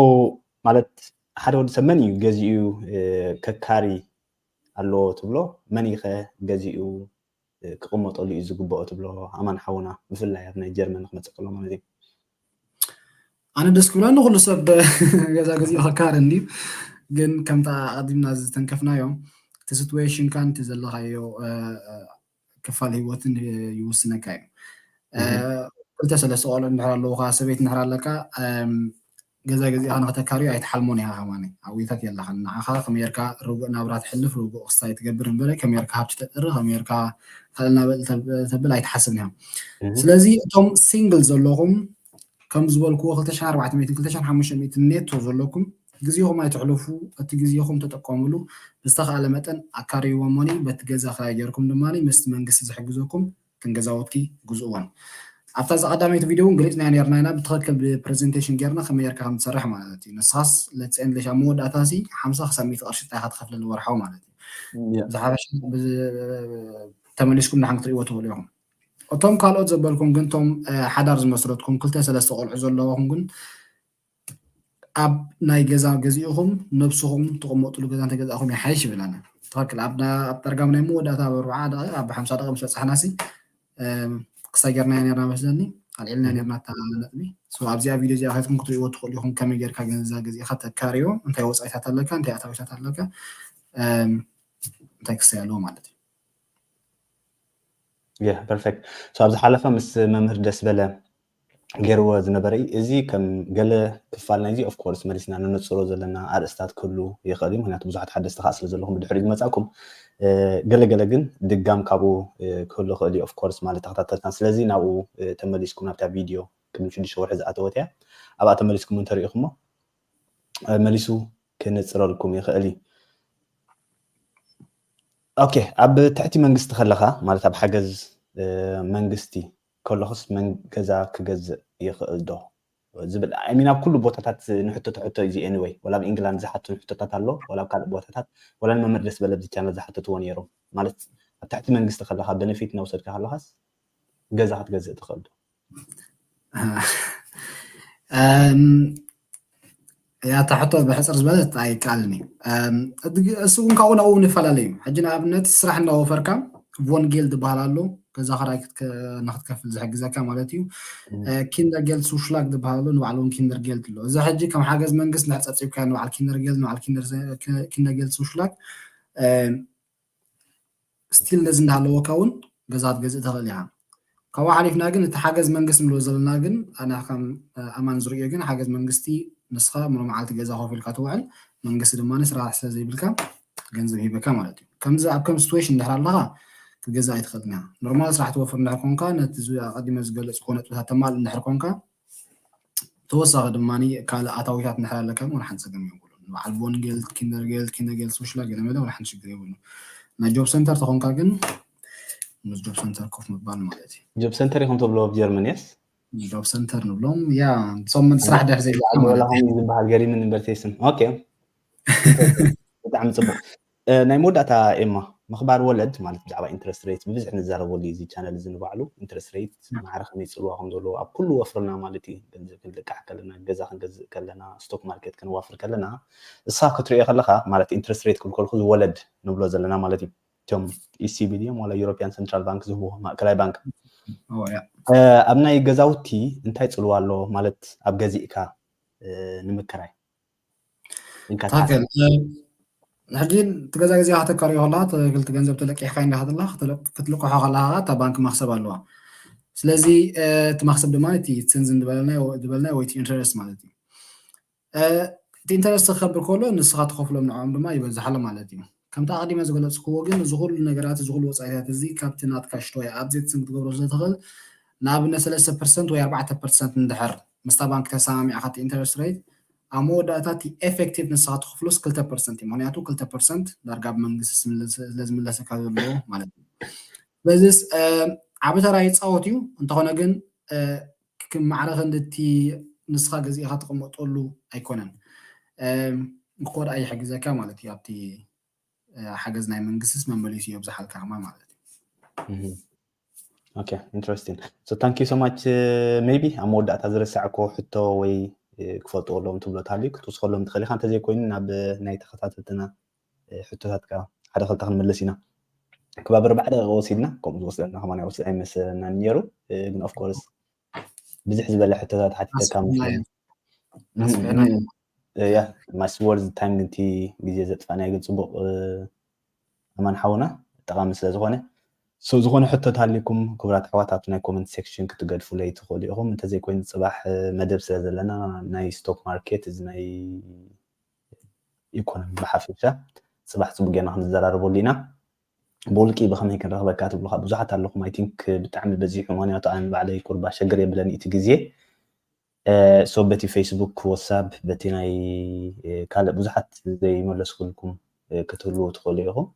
ማለት ሓደ ወዲ ሰብ መን እዩ ገዚኡ ከካሪ ኣለዎ ትብሎ መን እዩ ከ ገዚኡ ክቅመጠሉ እዩ ዝግበኦ ትብሎ ኣማን ሓውና ብፍላይ ኣብ ናይ ጀርመን ክመጽእ ከሎ ማለት እዩ ኣነ ደስ ክብላ ንኩሉ ሰብ ገዛ ገዚኡ ከካር እንድዩ ግን ከምታ ኣቀዲምና ዝተንከፍናዮ እቲ ሲትዌሽንካን እቲ ዘለካዮ ክፋል ህይወትን ይውስነካ እዩ ክልተ ሰለስተ ቆልዑ እንድሕር ኣለውካ ሰበይቲ እንድሕር ኣለካ ገዛ ገዚእኻ ንኽተካርዮ ኣይትሓልሞን ኢኻ ከማን ኣብዊታት የላኻን ንዓኻ ከመየርካ ርጉእ ናብራ ትሕልፍ ርጉእ ክስታይ ትገብር እንበረ ከመየርካ ሃብቲ ተጥሪ ከመየርካ ካልእ ናበል ተብል ኣይትሓስብን ኢኻ ስለዚ እቶም ሲንግል ዘለኹም ከም ዝበልኩዎ 2400 2500 ኔቶ ዘለኩም ግዜኹም ኣይተሕልፉ እቲ ግዜኹም ተጠቀምሉ ብዝተኻእለ መጠን ኣካርይዎ ሞኒ በቲ ገዛ ክራይ ጌርኩም ድማ ምስቲ መንግስቲ ዝሕግዘኩም እተን ገዛውቲ ግዝእወን። ኣብታ ዝቀዳመይቲ ቪድዮ ውን ገሊጽናዮ ኔርና ኢና ብትክክል ብፕረዘንተሽን ጌርና ከመይ ጌርካ ከም ትሰርሕ ማለት እዩ ንስካስ ለትስ ኤንድ ለሽ ኣብ መወዳእታ ሲ ሓምሳ ክሳብ ሚእቲ ቅርሺ ጥራይ ኢካ ትከፍለኒ ወርሓዊ ማለት እዩ ዝሓፈሻ ተመሊስኩም ንሓን ክትርእይዎ ትክእሉ ኢኩም እቶም ካልኦት ዘበልኩም ግን እቶም ሓዳር ዝመስረትኩም ክልተ ሰለስተ ቆልዑ ዘለዎኩም ግን ኣብ ናይ ገዛ ገዚእኹም ነብስኹም ትቕመጥሉ ገዛ እንተገዛእኹም ይሓይሽ ይብል ኣነ ትኽክል ኣብ ጠርጋም ናይ መወዳእታ ኣብ ኣርብዓ ደቂቕ ኣብ ሓምሳ ደቂቕ ምስ በፃሕናሲ ክሳብ ጌርናዮ ነርና መስለኒ ኣልዒልና ነርና እታ ነጥቢ ኣብዚኣ ቪድዮ እዚኣ ከትኩም ክትሪእዎ ትኽእሉ ኢኹም ከመይ ጌርካ ገንዛ ገዚእኻ ተካርዮ እንታይ ወፃኢታት ኣለካ እንታይ ኣታዊታት ኣለካ እንታይ ክሰይ ኣለዎ ማለት እዩ ፐርፌክት ሶ ኣብ ዝሓለፈ ምስ መምህር ደስበለ ገይርዎ ዝነበረ እዩ እዚ ከም ገለ ክፋል ናይዚ ኦፍ ኮርስ መሊስና ንነፅሮ ዘለና ኣርእስታት ክህሉ ይኽእል እዩ ምክንያቱ ብዙሓት ሓደስቲ ከዓ ስለ ዘለኹም ብድሕሪ ዝመፃእኩም ገለገለ ግን ድጋም ካብኡ ክህሉ ይኽእል እዩ ኦፍ ኮርስ ማለት ተኸታተልትና ስለዚ ናብኡ ተመሊስኩም ናብታ ቪድዮ ቅድሚ ሽዱሽተ ወርሒ ዝኣተወት እያ ኣብኣ ተመሊስኩም እንተሪኢኹሞ መሊሱ ክነጽረልኩም ይኽእል እዩ። ኦኬ ኣብ ትሕቲ መንግስቲ ከለኻ ማለት ኣብ ሓገዝ መንግስቲ ከለኹስ ገዛ ክገዝእ ይኽእል ዶ ዝብል ሚን ኣብ ኩሉ ቦታታት ንሕቶ ተሕቶ እዩ ኤኒወይ ወላ ኣብ ኢንግላንድ ዝሓቱ ሕቶታት ኣሎ ወላ ኣብ ካልእ ቦታታት ወላ ንመምህር ደስ በለ ብቻ ዝሓተትዎ ነይሮም ማለት ኣብ ትሕቲ መንግስቲ ከለካ በነፊት እናውሰድካ ከለካስ ገዛ ክትገዝእ ትኽእል ዶ ያታ ሕቶ ብሕፅር ዝበለት ኣይቃልን እዩ እሱ እውን ካብኡ ናብኡ ንፈላለዩ ሕጂ ንኣብነት ስራሕ እንዳወፈርካ ቮንጌል ዝበሃል ኣሎ ገዛ ክራይ ንክትከፍል ዝሕግዘካ ማለት እዩ ኪንደር ጌልድ ሱሽላግ ዝበሃል ኣሎ ንባዕሉ እውን ኪንደር ጌልድ ኣሎ እዚ ሕጂ ከም ሓገዝ መንግስት ንሕፀብፂብካ ንበዓል ኪንደር ጌልድ ንበዓል ኪንደር ጌልድ ሱሽላግ ስቲል ነዚ እንዳሃለወካ እውን ገዛ ክትገዝእ ትኽእል ኢኻ። ካብኡ ሓሊፍና ግን እቲ ሓገዝ መንግስቲ ንብሎ ዘለና ግን ኣነ ከም ኣማን ዝርእዮ ግን ሓገዝ መንግስቲ ንስኻ ሙሉ መዓልቲ ገዛ ኮፍ ኢልካ ትውዕል መንግስቲ ድማ ስራሕ ስለ ዘይብልካ ገንዘብ ሂበካ ማለት እዩ። ከምዚ ኣብ ከም ሲትዌሽን እንድሕር ኣለኻ ክትገዝእ ኣይትኽእልን ኢኻ። ኖርማል ስራሕ ትወፍር እንድሕር ኮንካ ነቲ ኣቐዲመ ዝገለጽክዎ ነጥብታት ተማልእ እንድሕር ኮንካ ብተወሳኺ ድማ ካልእ ኣታዊታት እንድሕር ኣለካ እውን ሓንቲ ጸገም የብሉን። ንበዓል ቮን ጌልት፣ ኪንደር ጌልት፣ ኪነ ጌልት፣ ሶሽላ ገለመለ እውን ሓንቲ ሽግር የብሉን። ናይ ጆብ ሰንተር ተኾንካ ግን ምስ ጆብ ሰንተር ኮፍ ምባል ማለት እዩ። ጆብ ሰንተር ኢኹም ተብሎ ኣብ ጀርመን የስ ጆብ ሰንተር ንብሎም ያ ሶም ስራሕ ድሕር ዘይብልካ ማለት እዩ። ዝበሃል ገሪምን እምበር ቴስን ኦኬ ብጣዕሚ ጽቡቅ ናይ መወዳእታ ኤማ ምኽባር ወለድ ማለት ብዛዕባ ኢንተረስት ረይት ብብዝሒ ንዛረበሉ እዩ እዚ ቻነል እዚ ንባዕሉ ኢንተረስት ረይት ማዕረ ከመይ ፅልዋ ከም ዘለዎ ኣብ ኩሉ ወፍርና ማለት እዩ ገንዘብ ክንልቃሕ ከለና ገዛ ክንገዝእ ከለና ስቶክ ማርኬት ከነዋፍር ከለና እሳ ክትሪኦ ከለኻ ማለት ኢንተረስት ረይት ክልኮልኩ ዝወለድ ንብሎ ዘለና ማለት እዩ እቶም ኢሲቢ ድዮም ዋላ ዩሮፒያን ሰንትራል ባንክ ዝህብዎ ማእከላይ ባንክ ኣብ ናይ ገዛውቲ እንታይ ፅልዋ ኣሎ ማለት ኣብ ገዚእካ ንምክራይ ሕጂ እቲ ገዛ ግዜ ከተካርዮ ከለካ ክልቲ ገንዘብ ተለቂሕካ እንዳሃተላ ክትልቅሖ ከለካ እታ ባንክ መክሰብ ኣለዋ ስለዚ እቲ መክሰብ ድማ እቲ ስንዝን ዝበልናዮ ወይ እቲ ኢንተረስት ማለት እዩ እቲ ኢንተረስት ክከብር ከሎ ንስካ ትከፍሎም ንዕኦም ድማ ይበዝሓሎም ማለት እዩ ከምቲ ኣቐዲመ ዝገለጽኩዎ ግን እዚ ኩሉ ነገራት እዚ ኩሉ ወጻኢታት እዚ ካብቲ ናትካ ሽቶ ወይ ኣብዜት ስም ክትገብሮ ስለ ትኽእል ንኣብነት ሰለስተ ፐርሰንት ወይ ኣርባዕተ ፐርሰንት እንድሕር ምስታ ባንኪ ተሰማሚዕካ እቲ ኢንተረስት ረይት ኣብ መወዳእታ እቲ ኤፈክቲቭ ንስኻ ትኽፍሎስ ክልተ ፐርሰንት እዩ ምኽንያቱ ክልተ ፐርሰንት ዳርጋ ብመንግስቲ ስለ ዝምለሰካ ዘሎ ማለት እዩ ስለዚስ ዓቢ ተራ ይጻወት እዩ እንተኾነ ግን ክክም ማዕረ ክንዲ እቲ ንስኻ ገዚእኻ ትቕመጠሉ ኣይኮነን። እንክኮ ድኣ ይሕግዘካ ማለት እዩ ኣብቲ ሓገዝ ናይ መንግስትስ መመሊሱ የብዝሓልካ ከማን ማለት እዩ። ኦኬ ኢንትረስቲንግ ሶ ታንክ ዩ ሶ ማች ሜቢ ኣብ መወዳእታ ዝረሳዕኮ ሕቶ ወይ ክፈልጥዎ ኣለዎም ትብሎ እንተሃልዩ ክትውስኸሎም ትኽእል ኢኻ እንተዘይኮይኑ ናብ ናይ ተኸታተልትና ሕቶታት ከኣ ሓደ ክልተ ክንምልስ ኢና። ክባብ ኣርባዓ ደቂቅ ወሲድና ከምኡ ዝወስደና ከማን ይወስድ ኣይመሰለናን ኔሩ ግን ኦፍ ኮርስ ብዝሕ ዝበለ ሕቶታት ሓቲተካ መስለኒ ያ ማስ ወርዝ ታይም ግን እቲ ግዜ ዘጥፋእናዮ ግን ጽቡቅ ኣማን ሓውና ጠቃሚ ስለ ዝኾነ ሰው ዝኾነ ሕቶት ኣሊኩም ክብራት ኣሕዋት ኣብቲ ናይ ኮመንት ሴክሽን ክትገድፉለይ ትኽእሉ ኢኹም እንተዘይኮይኑ ፅባሕ መደብ ስለ ዘለና ናይ ስቶክ ማርኬት እዚ ናይ ኢኮኖሚ ብሓፈሻ ጽባሕ ጽቡቅ ጌርና ክንዘራረበሉ ኢና። ብውልቂ ብከመይ ክንረክበካ ትብሉካ ብዙሓት ኣለኹም ኣይ ቲንክ ብጣዕሚ በዚሑ ምክንያቱ ኣነ ባዕለይ ቁርባ ሸግር የብለኒ እቲ ግዜ ሶ በቲ ፌስቡክ ወሳብ በቲ ናይ ካልእ ብዙሓት ዘይመለስኩልኩም ክትህልዉ ትኽእሉ ኢኹም።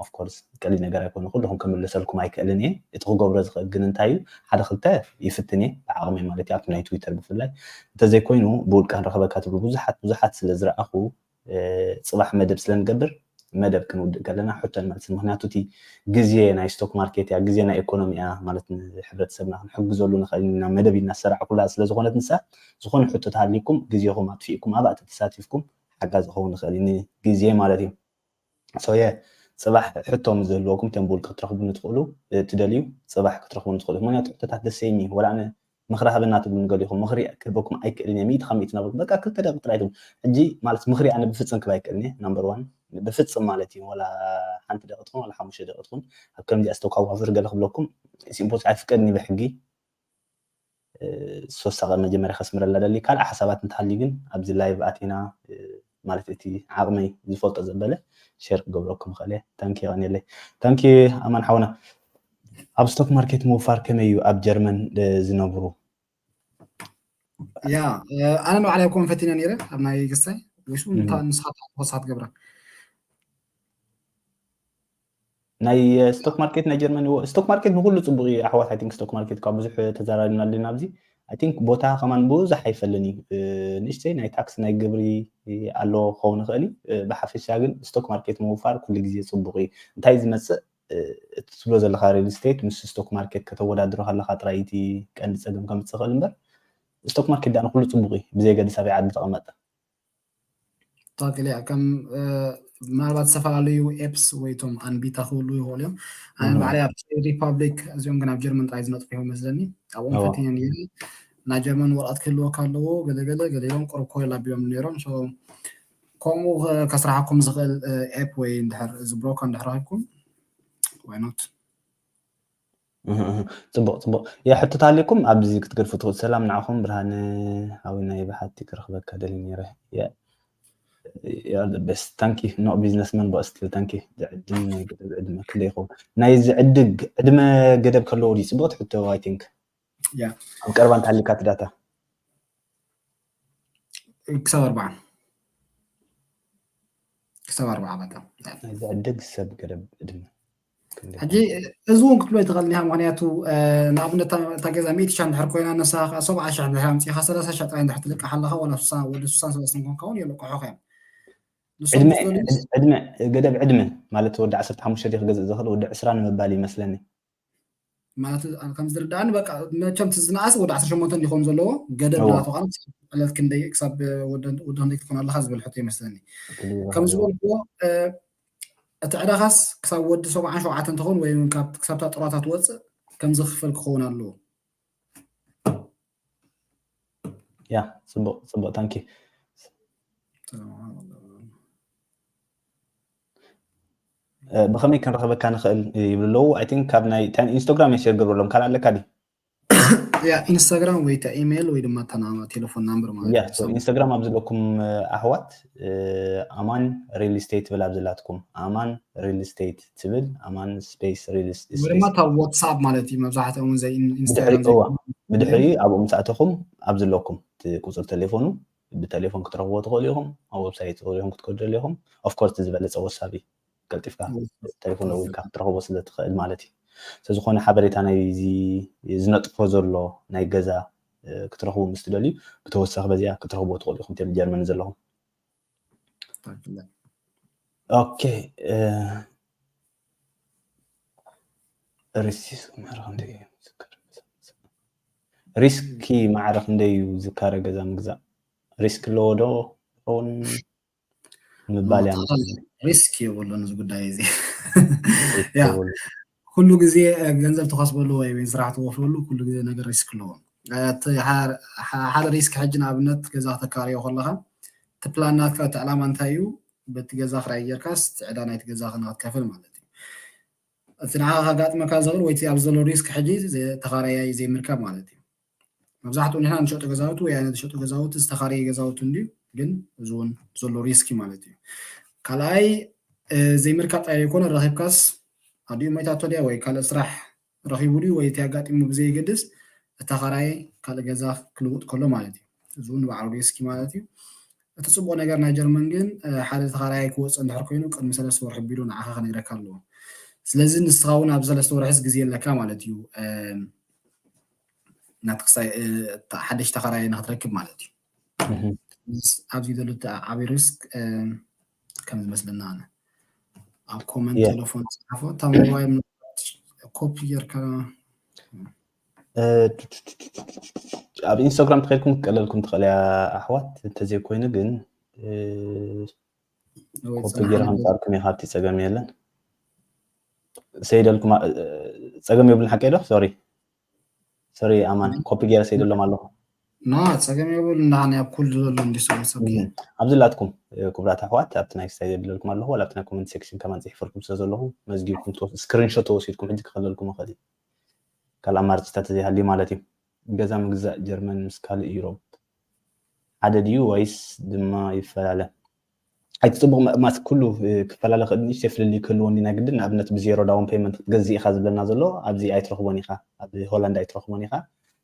ኦፍ ኮርስ ቀሊል ነገር ኣይኮነ ኩሉኹም ክምልሰልኩም ኣይክእልን እየ እቲ ክገብሮ ዝኽእል ግን እንታይ እዩ ሓደ ክልተ ይፍትን እየ ብዓቕመይ ማለት እዩ ኣብቲ ናይ ትዊተር ብፍላይ እንተዘይኮይኑ ብውልቀ ክንረኸበካ ትብሉ ብዙሓት ብዙሓት ስለ ዝረኣኹ ፅባሕ መደብ ስለ ንገብር መደብ ክንውድእ ከለና ሕቶን መልስን ምክንያቱ እቲ ግዜ ናይ ስቶክ ማርኬት እያ ግዜ ናይ ኢኮኖሚ እያ ማለት ንሕብረተሰብና ክንሕግዘሉ ንኽእል ኢና መደብ ኢልና ዝሰራዕኩላ ስለ ዝኾነት ንሳ ዝኾነ ሕቶ ተሃሊኩም ግዜኹም ኣጥፊእኩም ኣብኣ ተተሳቲፍኩም ሓጋዝ ዝኸውን ይኽእል እዩ ንግዜ ማለት እዩ ሶየ ጽባሕ ሕቶ ምስ ዝህልወኩም ተንቡል ክትረኽቡኒ ትኽእሉ ትደልዩ ጽባሕ ክትረኽቡኒ ትኽእሉ ኢኹም ምኽንያቱ ሕቶታት ደስ ዘይኒ ወላ ኣነ ምኽሪ ሃበና ትብሉኒ ገሊኹም ምኽሪ ክህበኩም ኣይክእልን እየ ሚእቲ ካብ ሚእቲ ናበልኩም በቃ ክልተ ደቂቅ ጥራይ ትብሉ ሕጂ ማለት ምኽሪ ኣነ ብፍጽም ክህብ ኣይክእልን እየ ናምበር ዋን ብፍጽም ማለት እዩ ወላ ሓንቲ ደቂ ትኹን ወላ ሓሙሽተ ደቂ ትኹን ኣብ ከምዚኣ ዝተኳዋፍር ገለ ክብለኩም ኢትስ ኢምፖስ ኣይፍቀድን እዩ ብሕጊ ሶሳቀ መጀመርያ ከስምረልና ደሊ ካልእ ሓሳባት እንተሃልዩ ግን ኣብዚ ላይቭ ኣቲና ማለት እቲ ዓቅመይ ዝፈልጦ ዘበለ ሸር ክገብረኩም ይኽእል እየ ታንኪ የቀንየለይ ታንኪ ኣማን ሓውና ኣብ ስቶክ ማርኬት ምውፋር ከመይ እዩ ኣብ ጀርመን ዝነብሩ ያ ኣነ ንባዕላይ ኮን ፈቲነ ነይረ ኣብ ናይ ገሳይ ወይሱ ንስኻ ተወሳ ትገብራ ናይ ስቶክ ማርኬት ናይ ጀርመን ይዎ ስቶክ ማርኬት ንኩሉ ፅቡቅ እዩ ኣሕዋት ኣይ ቲንክ ስቶክ ማርኬት ካብ ብዙሕ ተዘራሪብና ኣለና ኣብዚ ኣይ ቲንክ ቦታ ከማን ብዙሕ ኣይፈልን እዩ ንእሽተይ ናይ ታክስ ናይ ግብሪ ኣሎ ክኸውን ይኽእል እዩ ብሓፈሻ ግን ስቶክ ማርኬት ምውፋር ኩሉ ግዜ ፅቡቅ እዩ እንታይ ዝመፅእ እቲ ትብሎ ዘለካ ሪል ስቴት ምስ ስቶክ ማርኬት ከተወዳድሮ ከለካ ጥራይ እቲ ቀንዲ ፀገም ከምፅእ ይኽእል እምበር ስቶክ ማርኬት ዳኣ ንኩሉ ፅቡቅ እዩ ብዘየገድስ ኣበይ ዓዲ ተቐመጠ ትክክል እያ ከም ምናልባት ዝተፈላለዩ ኤፕስ ወይ ቶም ኣንቢታ ክህሉ ይኽእሉ እዮም ኣነ ባዕለይ ኣብ ሪፓብሊክ እዚኦም ግን ኣብ ጀርመን ጥራይ ዝነጥፉ እዮም መስለኒ ኣብኦም ፈትነ ነይረ ናይ ጀርመን ወረቐት ክህልወካ ኣለዎ ገለገለ ገሌሎም ቅርብ ኮይል ኣቢሎም ነይሮም ከምኡ ከስራሓኩም ዝኽእል ኤፕ ወይ እንድሕር እዚ ብሮከር እንድሕር ረኺብኩም ዋይኖት ጽቡቅ ጽቡቅ እየ ሕቶ ታሊኩም ኣብዚ ክትገድፉ ትኽእሉ ሰላም ንዓኹም ብርሃነ ሓዊና ይብሓቲ ክረኽበካ ደሊ ነይረ እየ you are the best thank you no businessman but still thank you ዝዕድም ናይ ገደብ ዕድመ ክንደይ ይኸውን ናይ ዝዕድግ ዕድመ ገደብ ከለዎ ድዩ ጽቡቕቲ ሕቶ i think ኣብ ቀረባ እንተሃሊካ እቲ ዳታ ክሳብ ኣርባዓ ክሳብ ኣርባዓ በቃ ዝዕደግ ሰብ ገደብ ዕድመ ሕጂ እዚ እውን ክትብሎ ይትኽእል ኒሃ ምክንያቱ ንኣብነት እታ ገዛ ሚእቲ ሽሕ እንድሕር ኮይና ንሳ ከዓ ሰብዓ ሽሕ እንድሕር ኣምፂእካ ሰላሳ ሽሕ ጥራይ እንድሕር ትልቅሕ ኣለካ ዋላ ስሳ ወዲ ስሳን ሰለስተን ኮንካ እውን የልቅሑካ እዮም ገደብ ዕድመ ማለት ወዲ ዓሰርተ ሓሙሽተ ክገዝእ ዝኽእል ወዲ ዕስራ ንምባል ይመስለኒ ማለት ከም ዝርዳእኒ በቃ መቸም ዝነኣሰ ወደ 18 እንዲኾኑ ዘለዎ ገደብ ናቶ ካነ ዕለት ክንደይ ክሳብ ወደ ክንደይ ክትኾን ኣለካ ዝብል ሕቶ ይመስለኒ ከም ዝበልክዎ እቲ ዕዳኻስ ክሳብ ወዲ ሰብዓን ሸውዓተ እንትኸውን ወይ ክሳብታ ጥሯታ ትወፅእ ከምዚ ክፍል ክኸውን ኣለዎ ያ ፅቡቅ ፅቡቅ ታንኪ ብከመይ ክንረክበካ ንክእል ይብሉ ኣለዉ ኣይ ቲንክ ካብ ናይ ኢንስታግራም ሜሴጅ ግብርሎም ካልእ ኣለካ ዲ ያ ኢንስታግራም ወይ ታ ኢሜይል ወይ ድማ እታ ቴሌፎን ናምበር ማለት ያ ኢንስታግራም ኣብ ዘለኩም ኣሕዋት ኣማን ሪል ስቴት ብላ ኣብ ዘላትኩም ኣማን ሪል ስቴት ትብል ኣማን ስፔስ ሪል ስቴት ወይ ድማ እታ ዋትስኣፕ ማለት እዩ መብዛሕትኦም እውን ዘይ ኢንስታግራም ብድሕሪ እዋ ብድሕሪ ኣብኡ ምስ ኣተኹም ኣብ ዝለኩም እቲ ቁፅሪ ቴሌፎኑ ብቴሌፎን ክትረኽብዎ ትኽእሉ ኢኹም ኣብ ወብሳይት ሪኹም ክትከዱ ደሊ ኢኹም ኦፍኮርስ እቲ ዝበለፀ ወሳብ እዩ ቀልጢፍካ ቴሌፎን ደዊልካ ክትረኽቦ ስለ ትኽእል ማለት እዩ ስለዝኾነ ሓበሬታ ናይዚ ዝነጥፎ ዘሎ ናይ ገዛ ክትረኽቡ ምስ ትደልዩ ብተወሳኺ በዚኣ ክትረኽብዎ ትኽእሉ ኢኹም ጀርመን ዘለኹም ሪስኪ ማዕረ ክንደይ እዩ ዝካረ ገዛ ምግዛእ ሪስክ ኣለዎ ዶ ውን ምባል ሪስክ የብሉን እዚ ጉዳይ እዚ ኩሉ ግዜ ገንዘብ ትኸስበሉ ወይ ውን ስራሕ ትወፍረሉ ኩሉ ግዜ ነገር ሪስክ ኣለዎ። እቲ ሓደ ሪስክ ሕጂ ንኣብነት ገዛ ክተካርዮ ከለኻ እቲ ፕላን ናትካ እቲ ዕላማ እንታይ እዩ በቲ ገዛ ክራይ ጌርካስ እቲ ዕዳ ናይቲ ገዛ ንክትከፍል ማለት እዩ። እቲ ንዓኻ ከጋጥመካ ዝኽእል ወይ እቲ ኣብዚ ዘሎ ሪስክ ሕጂ ተኻራያይ ዘይምርካብ ማለት እዩ። መብዛሕትኡ ንሕና ንሸጦ ገዛውቲ ወይ ኣነ ዝሸጦ ገዛውቲ ዝተኻረየ ገዛውቲ እንድዩ ግን እዚ እውን ዘሎ ሪስኪ ማለት እዩ ካልኣይ ዘይምርካብ ጥራይ ዘይኮነ ረኺብካስ ኣዲኡ ሞይታቶ ድያ ወይ ካልእ ስራሕ ረኺቡ ድዩ ወይ እቲ ኣጋጢሙ ብዘይገድስ እታ ኻራይ ካልእ ገዛ ክልውጥ ከሎ ማለት እዩ እዚ እውን ንባዕሉ ሪስኪ ማለት እዩ እቲ ፅቡቅ ነገር ናይ ጀርመን ግን ሓደ ተኻራይ ክወፅእ እንድሕር ኮይኑ ቅድሚ ሰለስተ ወርሒ ቢሉ ንዓኻ ክነግረካ ኣለዎ ስለዚ ንስኻ እውን ኣብ ሰለስተ ወርሕስ ግዜ ኣለካ ማለት እዩ ናቲ ክሳይ ሓደሽ ተኸራይ ንክትረክብ ማለት እዩ ኣብዚ ዘሎ ዓብይ ሪስክ ከም ዝመስለና ኣነ ኣብ ኮመንት ቴሌፎን ፅሓፎ እታ ሞባይል ኮፒ ጌርካ ኣብ ኢንስታግራም ተኸድኩም ክትቀለልኩም ትኽእል እያ ኣሕዋት እንተዘይኮይኑ ግን ኮፒ ጌርካ ምፃርኩም እየ ካብቲ ፀገም የለን ሰይደልኩም ፀገም የብሉን ሓቀይ ዶ ሶሪ ሶሪ ኣማን ኮፒ ገይረ ሰይደሎም ኣለኹ ና ፀገም የብሉ እንዳሃኒ ኣብ ኩሉ ዘሎ እንዲ ሰበሰብ ኣብዚ ላትኩም ክብራት ኣሕዋት ኣብቲ ናይ ስታይ ዘድለልኩም ኣለኹ ዋላ ኣብቲ ናይ ኮመንት ሴክሽን ከማን ፅሒፈልኩም ስለ ዘለኹ መዝጊብኩም ስክሪንሾት ተወሲድኩም ሕጂ ክኸለልኩም ይኽእል እዩ ካልእ ኣማርፅታት ዘይሃልዩ ማለት እዩ ገዛ ምግዛእ ጀርመን ምስ ካልእ ዩሮብ ሓደ ድዩ ወይስ ድማ ይፈላለ ኣይት ጽቡቕ ምእማት ኩሉ ክፈላለ ክእል ንእሽተይ ፍልልይ ክህልዎ እንዲና ግድን ንኣብነት ብዜሮ ዳውን ፔመንት ክትገዝእ ኢኻ ዝብለና ዘሎ ኣብዚ ኣይትረኽቦን ኢኻ ኣብ ሆላንድ ኣይትረኽቦን ኢኻ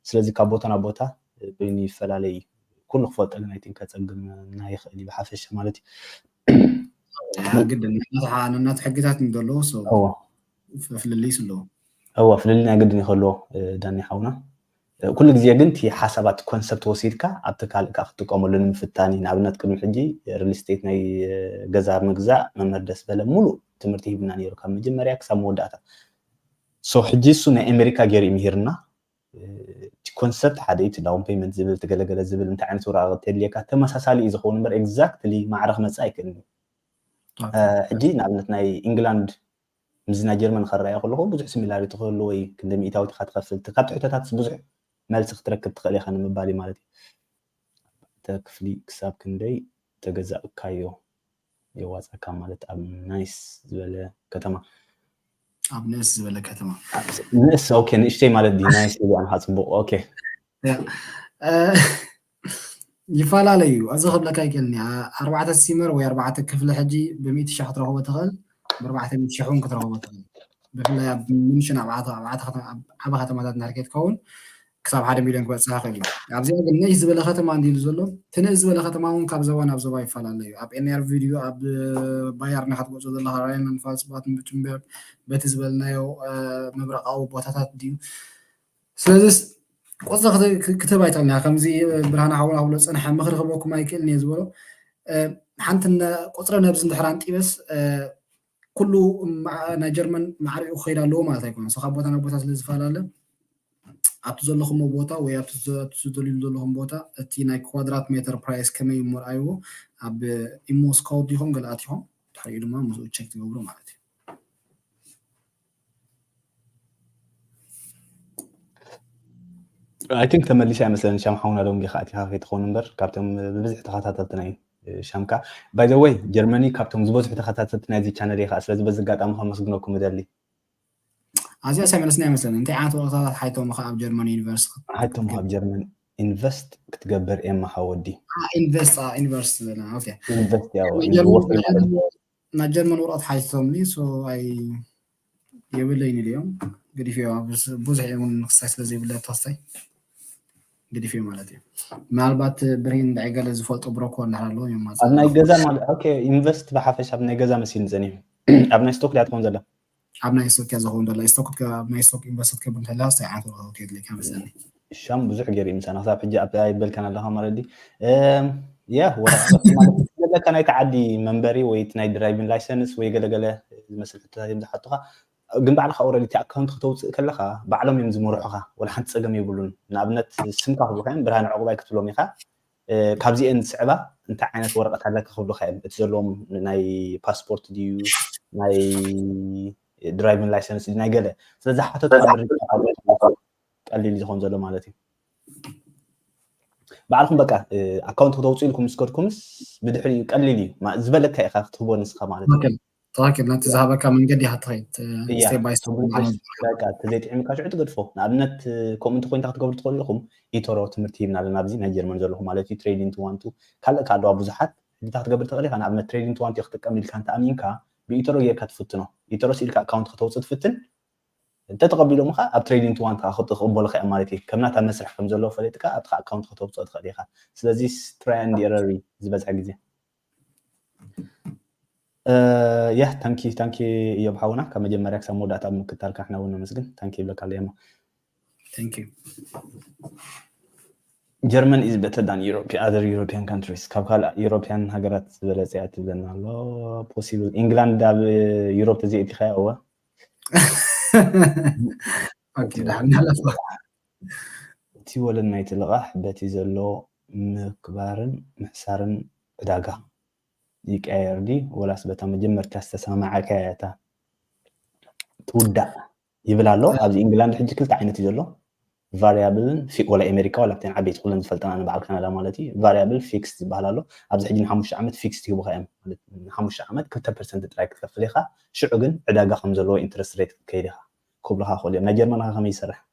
ስለዚ ካብ ቦታ ናብ ቦታ በይኑ ይፈላለ እዩ ኩሉ ክፈልጠልን ኣይ ቲንክ ከጸግመና ይኽእል እዩ ብሓፈሻ ማለት እዩ ግድን ናት ሕግታት ንዘለዎ ሰው ፍልልይ ስለዎ እወ ፍልልይ ናይ ግድን ይኸልዎ ዳኒ ሓውና ኩሉ ግዜ ግን እቲ ሓሳባት ኮንሰፕት ወሲድካ ኣብ ትካል እካ ክትጥቀመሉ ንምፍታን እዩ ንኣብነት ቅድሚ ሕጂ ሪል ስቴት ናይ ገዛ ምግዛእ መምህር ደስ በለ ሙሉእ ትምህርቲ ሂብና ነይሩ ካብ መጀመርያ ክሳብ መወዳእታ ሶ ሕጂ እሱ ናይ ኣሜሪካ ገይሩ ይምህርና እቲ ኮንሰፕት ሓደ እዩ ዳውን ፔመንት ዝብል ትገለገለ ዝብል እንታይ ዓይነት ወረቃቅቲ የድልየካ ተመሳሳሊ እዩ ዝኸውን እምበር ኤግዛክትሊ ማዕረ ክመፅእ ኣይክእልን እዩ ሕጂ ንኣብነት ናይ ኢንግላንድ ምስዚ ናይ ጀርመን ኸረኣዮ ከለኹ ብዙሕ ሲሚላሪቲ ክህልዎ እዩ፣ ክንደይ ሚኢታዊት ኢኻ ትኸፍል፣ እቲ ካብቲ ሕቶታትስ ብዙሕ መልሲ ክትረክብ ትኽእል ኢኻ ንምባል እዩ ማለት እዩ። ኣርባዕተ ክፍሊ ክሳብ ክንደይ ተገዛእካዮ የዋጻካ ማለት ኣብ ናይስ ዝበለ ከተማ። ኣብ ንእስ ዝበለ ከተማ ንእስ ኦኬ ንእሽተይ ማለት ድዩ ናይስ ኢሉ ኣንካ ጽቡቅ ኦኬ ይፈላለ እዩ ኣዚ ክብለካ ይክእልኒ ኣርባዕተ ሲመር ወይ ኣርባዕተ ክፍሊ ሕጂ ብሚእቲ ሸሕ ክትረኽቦ ትኽእል ብኣርባዕተ ሚእቲ ሸሕ እውን ክትረኽቦ ትኽእል ብፍላይ ኣብ ምንሽን ኣብ ዓበ ከተማታት እንድሕር ከይትከውን ክሳብ ሓደ ሚልዮን ክበፅሕ ይኽእል እዩ ኣብዚኣ ግን ነሽ ዝበለ ከተማ እንዲሉ ዘሎ እቲ ነሽ ዝበለ ከተማ እውን ካብ ዘባ ናብ ዘባ ይፈላለ እዩ ኣብ ኤንር ቪድዮ ኣብ ባያርና ክትገልፆ ዘለካ ራይናን ፋልስባትን ብቱምበርግ በቲ ዝበልናዮ ምብራቃዊ ቦታታት ድዩ ስለዚስ ቁፅሪ ክትህብ ኣይትኽእልን ኢኻ ከምዚ ብርሃነ ሓውና ክብሎ ዝፀንሐ ምኽሪ ክህበኩም ኣይክእልን እየ ዝበሎ ሓንቲ ቁፅሪ ነብዚ እንድሕር ኣንጢበስ ኩሉ ናይ ጀርመን ማዕሪኡ ክኸይድ ኣለዎ ማለት ኣይኮነን ሰ ካብ ቦታ ናብ ቦታ ስለ ዝፈላለ ኣብቲ ዘለኹሞ ቦታ ወይ ኣብቲ ዝደልዩ ዘለኹም ቦታ እቲ ናይ ኳድራት ሜትር ፕራይስ ከመይ እሞ ርኣይዎ ኣብ ኢሞ ስካውት ዲኹም ገለ ኣቲኹም ድሕሪኡ ድማ ምስኡ ቸክ ትገብሩ ማለት እዩ ኣይ ቲንክ ተመሊሰ ኣይመስለኒ ሻም ሓውና ዶም ጌኻ ኣቲኻ ከይትኸውን እምበር ካብቶም ብብዝሒ ተኸታተልትና እዩ ሻምካ ባይ ዘ ወይ ጀርመኒ ካብቶም ዝበዝሑ ተኸታተልቲ ናይዚ ቻነል እየ ከዓ ስለዚ በዚ ኣጋጣሚ ከመስግነኩም እደሊ ኣዚኣ ሰምዕስና ኣይመስለኒ እንታይ ዓይነት ወረታታት ሓይቶምኻ ኣብ ጀርመን ዩኒቨርስቲ ሓይቶምኻ ኣብ ጀርመን ኢንቨስት ክትገብር ኤማ ሓወዲ ኢንቨስት ኢንቨስት ኢንቨስት ናብ ጀርመን ወረቐት ሓቲቶምኒ ሶ ኣይ የብለይን ኢለዮም ገዲፈዮ ብዙሕ እውን ንክሳይ ስለ ዘይብለ ተወሳይ ገዲፈዮ ማለት እዩ ምናልባት ብርሂን ንዳይ ገለ ዝፈልጦ ብሮኮ እንዳሃር ኣለዎ እዮም ኣብ ናይ ገዛ ኦኬ ኢንቨስት ብሓፈሽ ኣብ ናይ ገዛ መሲል ዝፀኒሑ ኣብ ናይ ስቶክ ዳትኮም ዘላ ኣብ ናይ ስቶክ እያ ዝኸውን ደላ ስቶክ ናይ ስቶክ ኢንቨስት ክብል እንተላ ስታይ ዓይነት ወረቀት የድልየካ መስለኒ ሻም ብዙሕ ገይሩ ምሳና ክሳብ ሕጂ ኣብ ኣይበልካን ኣለካ መረዲ ያ ወረቀት ዘለካ ናይ ተዓዲ መንበሪ ወይ ናይ ድራይቪን ላይሰንስ ወይ ገለገለ ዝመስል ሕቶታት እዮም ዝሓቱካ ግን ባዕልካ ኦረዲ እቲ ኣካውንት ክተውፅእ ከለካ ባዕሎም እዮም ዝመርሑካ ወላ ሓንቲ ፀገም የብሉን ንኣብነት ስምካ ክብሉካ እዮም ብርሃን ዕቁባይ ክትብሎም ኢካ ካብዚኤን ዝስዕባ እንታይ ዓይነት ወረቀት ኣለካ ክብሉካ እዮም እቲ ዘለዎም ናይ ፓስፖርት ድዩ ናይ ድራይቪን ላይሰንስ ናይ ገለ ስለዚ ሓተቱ ቀሊል ዝኮን ዘሎ ማለት እዩ ባዕልኩም በቃ ኣካውንት ክተውፅኡ ኢልኩም ምስ ከድኩምስ ብድሕሪኡ ቀሊል እዩ ዝበለካ ኢካ ክትህቦ ንስካ ማለት እዩ ትክክል ነቲ ዝሃበካ መንገዲ ኢካ ትኸይድ ስቴፕ ባይ ስቴፕ እቲ ዘይጥዕምካ ሽዑ ትገድፎ ንኣብነት ከምኡ እንተኮይንታ ክትገብሩ ትኽእሉ ኢኹም ኢቶሮ ትምህርቲ ሂብና ኣለና ኣብዚ ናይ ጀርመን ዘለኹ ማለት እዩ ትሬዲንግ ትዋንቱ ካልእ ከ ኣለዋ ብዙሓት ሕጂታ ክትገብር ትኽእል ኢኻ ንኣብነት ትሬዲንግ ትዋንቱ ክጥቀም ኢልካ እንተ ኣሚንካ ብኢቶሮ ጌርካ ትፍትኖ ኢቶሮ ስኢልካ ኣካውንት ከተውፅእ ትፍትን እንተተቐቢሎም ከዓ ኣብ ትሬዲንግ ትዋንት ከዓ ክቕበሉ ከያ ማለት እዩ ከም ናታ መስርሕ ከም ዘለዎ ፈለጥካ ኣብቲ ኣካውንት ከተውፅኦ ትኽእል ኢኻ ስለዚ ትራይ ንድ ኤረር ዝበዝሐ ግዜ ያ ታንኪ ታንኪ እዮብ ሓውና ካብ መጀመርያ ክሳብ መወዳእታ ኣብ ምክታልካ ንሕና እውን ነመስግን ታንኪ ይብለካ ኣለየሞ ጀርመን ኢዝ በተር ዳን ኣዘር ዩሮፒያን ካንትሪስ ካብ ካልእ ዩሮፒያን ሃገራት ዝበለፀ እያ ትብለና ኣሎ ፖሲብል ኢንግላንድ ኣብ ዩሮፕ ተዘይእቲኸያ እወ እቲ ወለድ ናይቲ ልቓሕ በቲ ዘሎ ምክባርን ምሕሳርን ዕዳጋ ይቀያየር ድዩ ወላስ በታ መጀመርታ ዝተሰማማዕካያ እታ ትውዳእ ይብል ኣሎ ኣብዚ ኢንግላንድ ሕጂ ክልተ ዓይነት እዩ ዘሎ ቫሪያብልን ወላ ኣሜሪካ ወላ ኣብተን ዓበይቲ ኩለን ዝፈልጠን ኣነ በዓል ካናዳ ማለት እዩ ቫሪያብል ፊክስ ዝበሃል ኣሎ ኣብዚ ሕጂ ንሓሙሽተ ዓመት ፊክስ ይህቡካ እዮም ማለት ንሓሙሽተ ዓመት ክልተ ፐርሰንት ጥራይ ክትከፍል ኢኻ ሽዑ ግን ዕዳጋ ከም ዘለዎ ኢንትረስት ሬት ክትከይድ ኢኻ ክብሉካ ክእሉ እዮም ናይ ጀርመን ከ ከመይ ይሰርሕ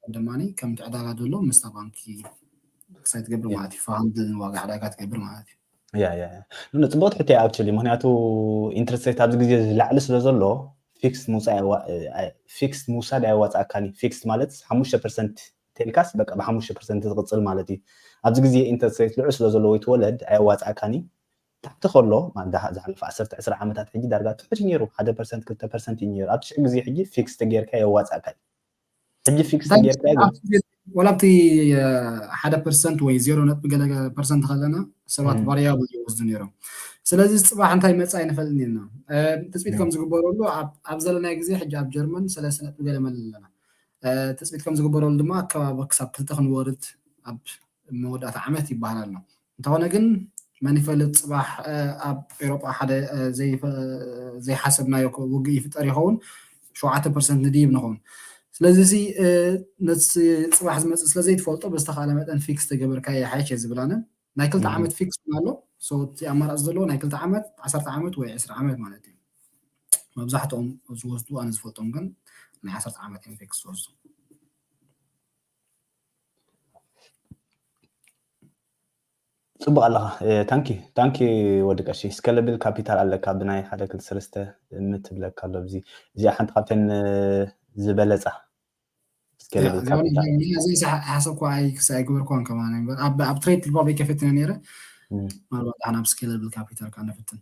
ንስኻ ድማ ከምቲ ዕዳጋ ዘሎ ምስታ ባንኪ ክሳይ ትገብር ማለት እዩ ፋሃምቲ ዋጋ ዕዳጋ ትገብር ማለት እዩ ያ ያ ያ ፅቡቅ ትሕት እያ ኣክቹዋሊ ምክንያቱ ኢንትረስት ሬት ኣብዚ ግዜ ዝላዕሊ ስለ ዘሎ ፊክስ ምውፃእ ፊክስ ምውሳድ ኣየዋፅኣካን እዩ ፊክስ ማለት ሓሙሽተ ፐርሰንት ቴልካስ በቃ ብሓሙሽተ ፐርሰንት ዝቕፅል ማለት እዩ ኣብዚ ግዜ ኢንትረስት ሬት ልዑል ስለ ዘሎ ወይ ትወለድ ኣየዋፅኣካን እዩ ታሕቲ ከሎ ዝሓለፈ ዓሰርተ ዕስራ ዓመታት ሕጂ ዳርጋ ትሑት እዩ ነይሩ ሓደ ፐርሰንት ክልተ ፐርሰንት እዩ ነይሩ ኣብ ትሽዕ ግዜ ሕጂ ፊክስ ተጌርካ የዋፅኣካ እዩ ሕጂ ፊክስ ጌርካዮ ግን ኣብቲ ቤት ዋላ ኣብቲ ሓደ ፐርሰንት ወይ ዜሮ ነጥቢ ገለ ፐርሰንት ከለና ሰባት ቫሪያብል ይወስዱ ነይሮም ስለዚ ፅባሕ እንታይ መፃእ ኣይንፈልጥን ኢና ትፅቢት ከም ዝግበረሉ ኣብ ዘለናይ ግዜ ሕጂ ኣብ ጀርመን ሰለስተ ነጥቢ ገለ መለ ኣለና ትፅቢት ከም ዝግበረሉ ድማ ኣከባቢ ክሳብ ክልተ ክንወርድ ኣብ መወዳእታ ዓመት ይበሃል ኣሎ። እንተኾነ ግን መን ይፈልጥ ጽባሕ ኣብ ኤውሮጳ ሓደ ዘይሓሰብናዮ ውግእ ይፍጠር ይኸውን፣ ሸውዓተ ፐርሰንት ንድይብ ንኾን። ስለዚ ሲ ነቲ ጽባሕ ዝመጽእ ስለ ዘይትፈልጦ ብዝተኻለ መጠን ፊክስ ተገበርካዮ ይሓይሽ እየ ዝብል ኣነ። ናይ ክልተ ዓመት ፊክስ እውን ኣሎ። ሶ እቲ ኣማራጺ ዘለዎ ናይ ክልተ ዓመት፣ ዓሰርተ ዓመት ወይ ዕስራ ዓመት ማለት እዩ። መብዛሕትኦም ዝወስዱ ኣነ ዝፈልጦም ግን ናይ ዓሰርተ ዓመት እዮም ፊክስ ዝወስዱ። ፅቡቅ ኣለኻ ታንኪ ታንኪ ወዲ ቀሺ ስከለብል ካፒታል ኣለካ ብናይ ሓደ ክል ሰለስተ ምትብለካ ኣሎ እዚ እዚኣ ሓንቲ ካብተን ዝበለፃ ስከለብል ካፒታል እዚኣ ሓሳብ ኳ ኣይገበርኳን ከማን ኣብ ትሬድ ሪፓብሊክ ከፈትና ነይረ ምናልባት ኣብ ስከለብል ካፒታል ካነፍትን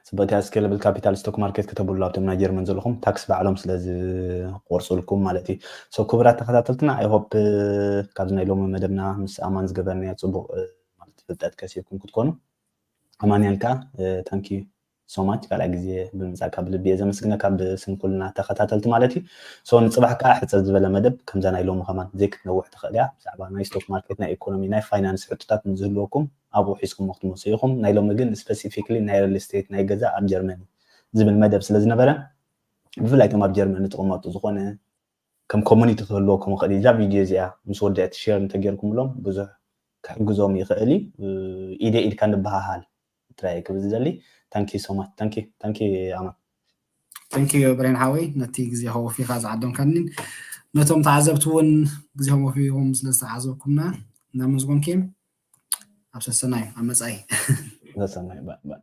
ፅብቅቲ እያ ስኬለብል ካፒታል ስቶክ ማርኬት ክተብሉ ኣብቶም ናይ ጀርመን ዘለኹም ታክስ ባዕሎም ስለ ዝቆርፅልኩም ማለት እዩ ሰው ክብራት ተኸታተልትና ኣይሆፕ ካብዚ ናይ ሎሚ መደብና ምስ ኣማን ዝገበርናዮ ፅቡቅ ማለት ፍልጠት ከሲብኩም ክትኮኑ ኣማንያን ከዓ ታንኪ ሶማች ካልኣ ግዜ ብምፃካ ብልቢ እየ ዘመስግነካ ብስም ኩልና ተኸታተልቲ ማለት እዩ ሰው ንፅባሕ ከዓ ሕፀር ዝበለ መደብ ከምዛ ናይ ሎሚ ከማን ዘይክትነውሕ ትኽእል እያ ብዛዕባ ናይ ስቶክ ማርኬት ናይ ኢኮኖሚ ናይ ፋይናንስ ሕቶታት ንዝህልወኩም ኣብኡ ሒዝኩሞ ክትመጹ ኢኹም ናይ ሎሚ ግን ስፐሲፊክሊ ናይ ርል ስተይት ናይ ገዛ ኣብ ጀርመኒ ዝብል መደብ ስለ ዝነበረ ብፍላይ እቶም ኣብ ጀርመኒ ትቕመጡ ዝኾነ ከም ኮሙኒቲ ክህልወኩም ይኽእል እዩ እዛ ቪድዮ እዚኣ ምስ ወድእት ሼር እንተጌርኩምሎም ብዙሕ ክሕግዞም ይኽእል እዩ ኢደ ኢድካ ንበሃሃል ጥራይ እየ ክብል ዝደሊ ታንኪ ሶማች ታንኪ ታንኪ ኣማን ታንኪ ብሬን ሓወይ ነቲ ግዜ ከወፊኻ ዝዓደምካኒ ነቶም ተዓዘብቲ እውን ግዜኦም ወፊኹም ስለ ዝተዓዘብኩምና እናመስጎንኪ ኣብ ሰሰናዩ ኣብ መፃኢ ሰሰናዩ ባእ ባእ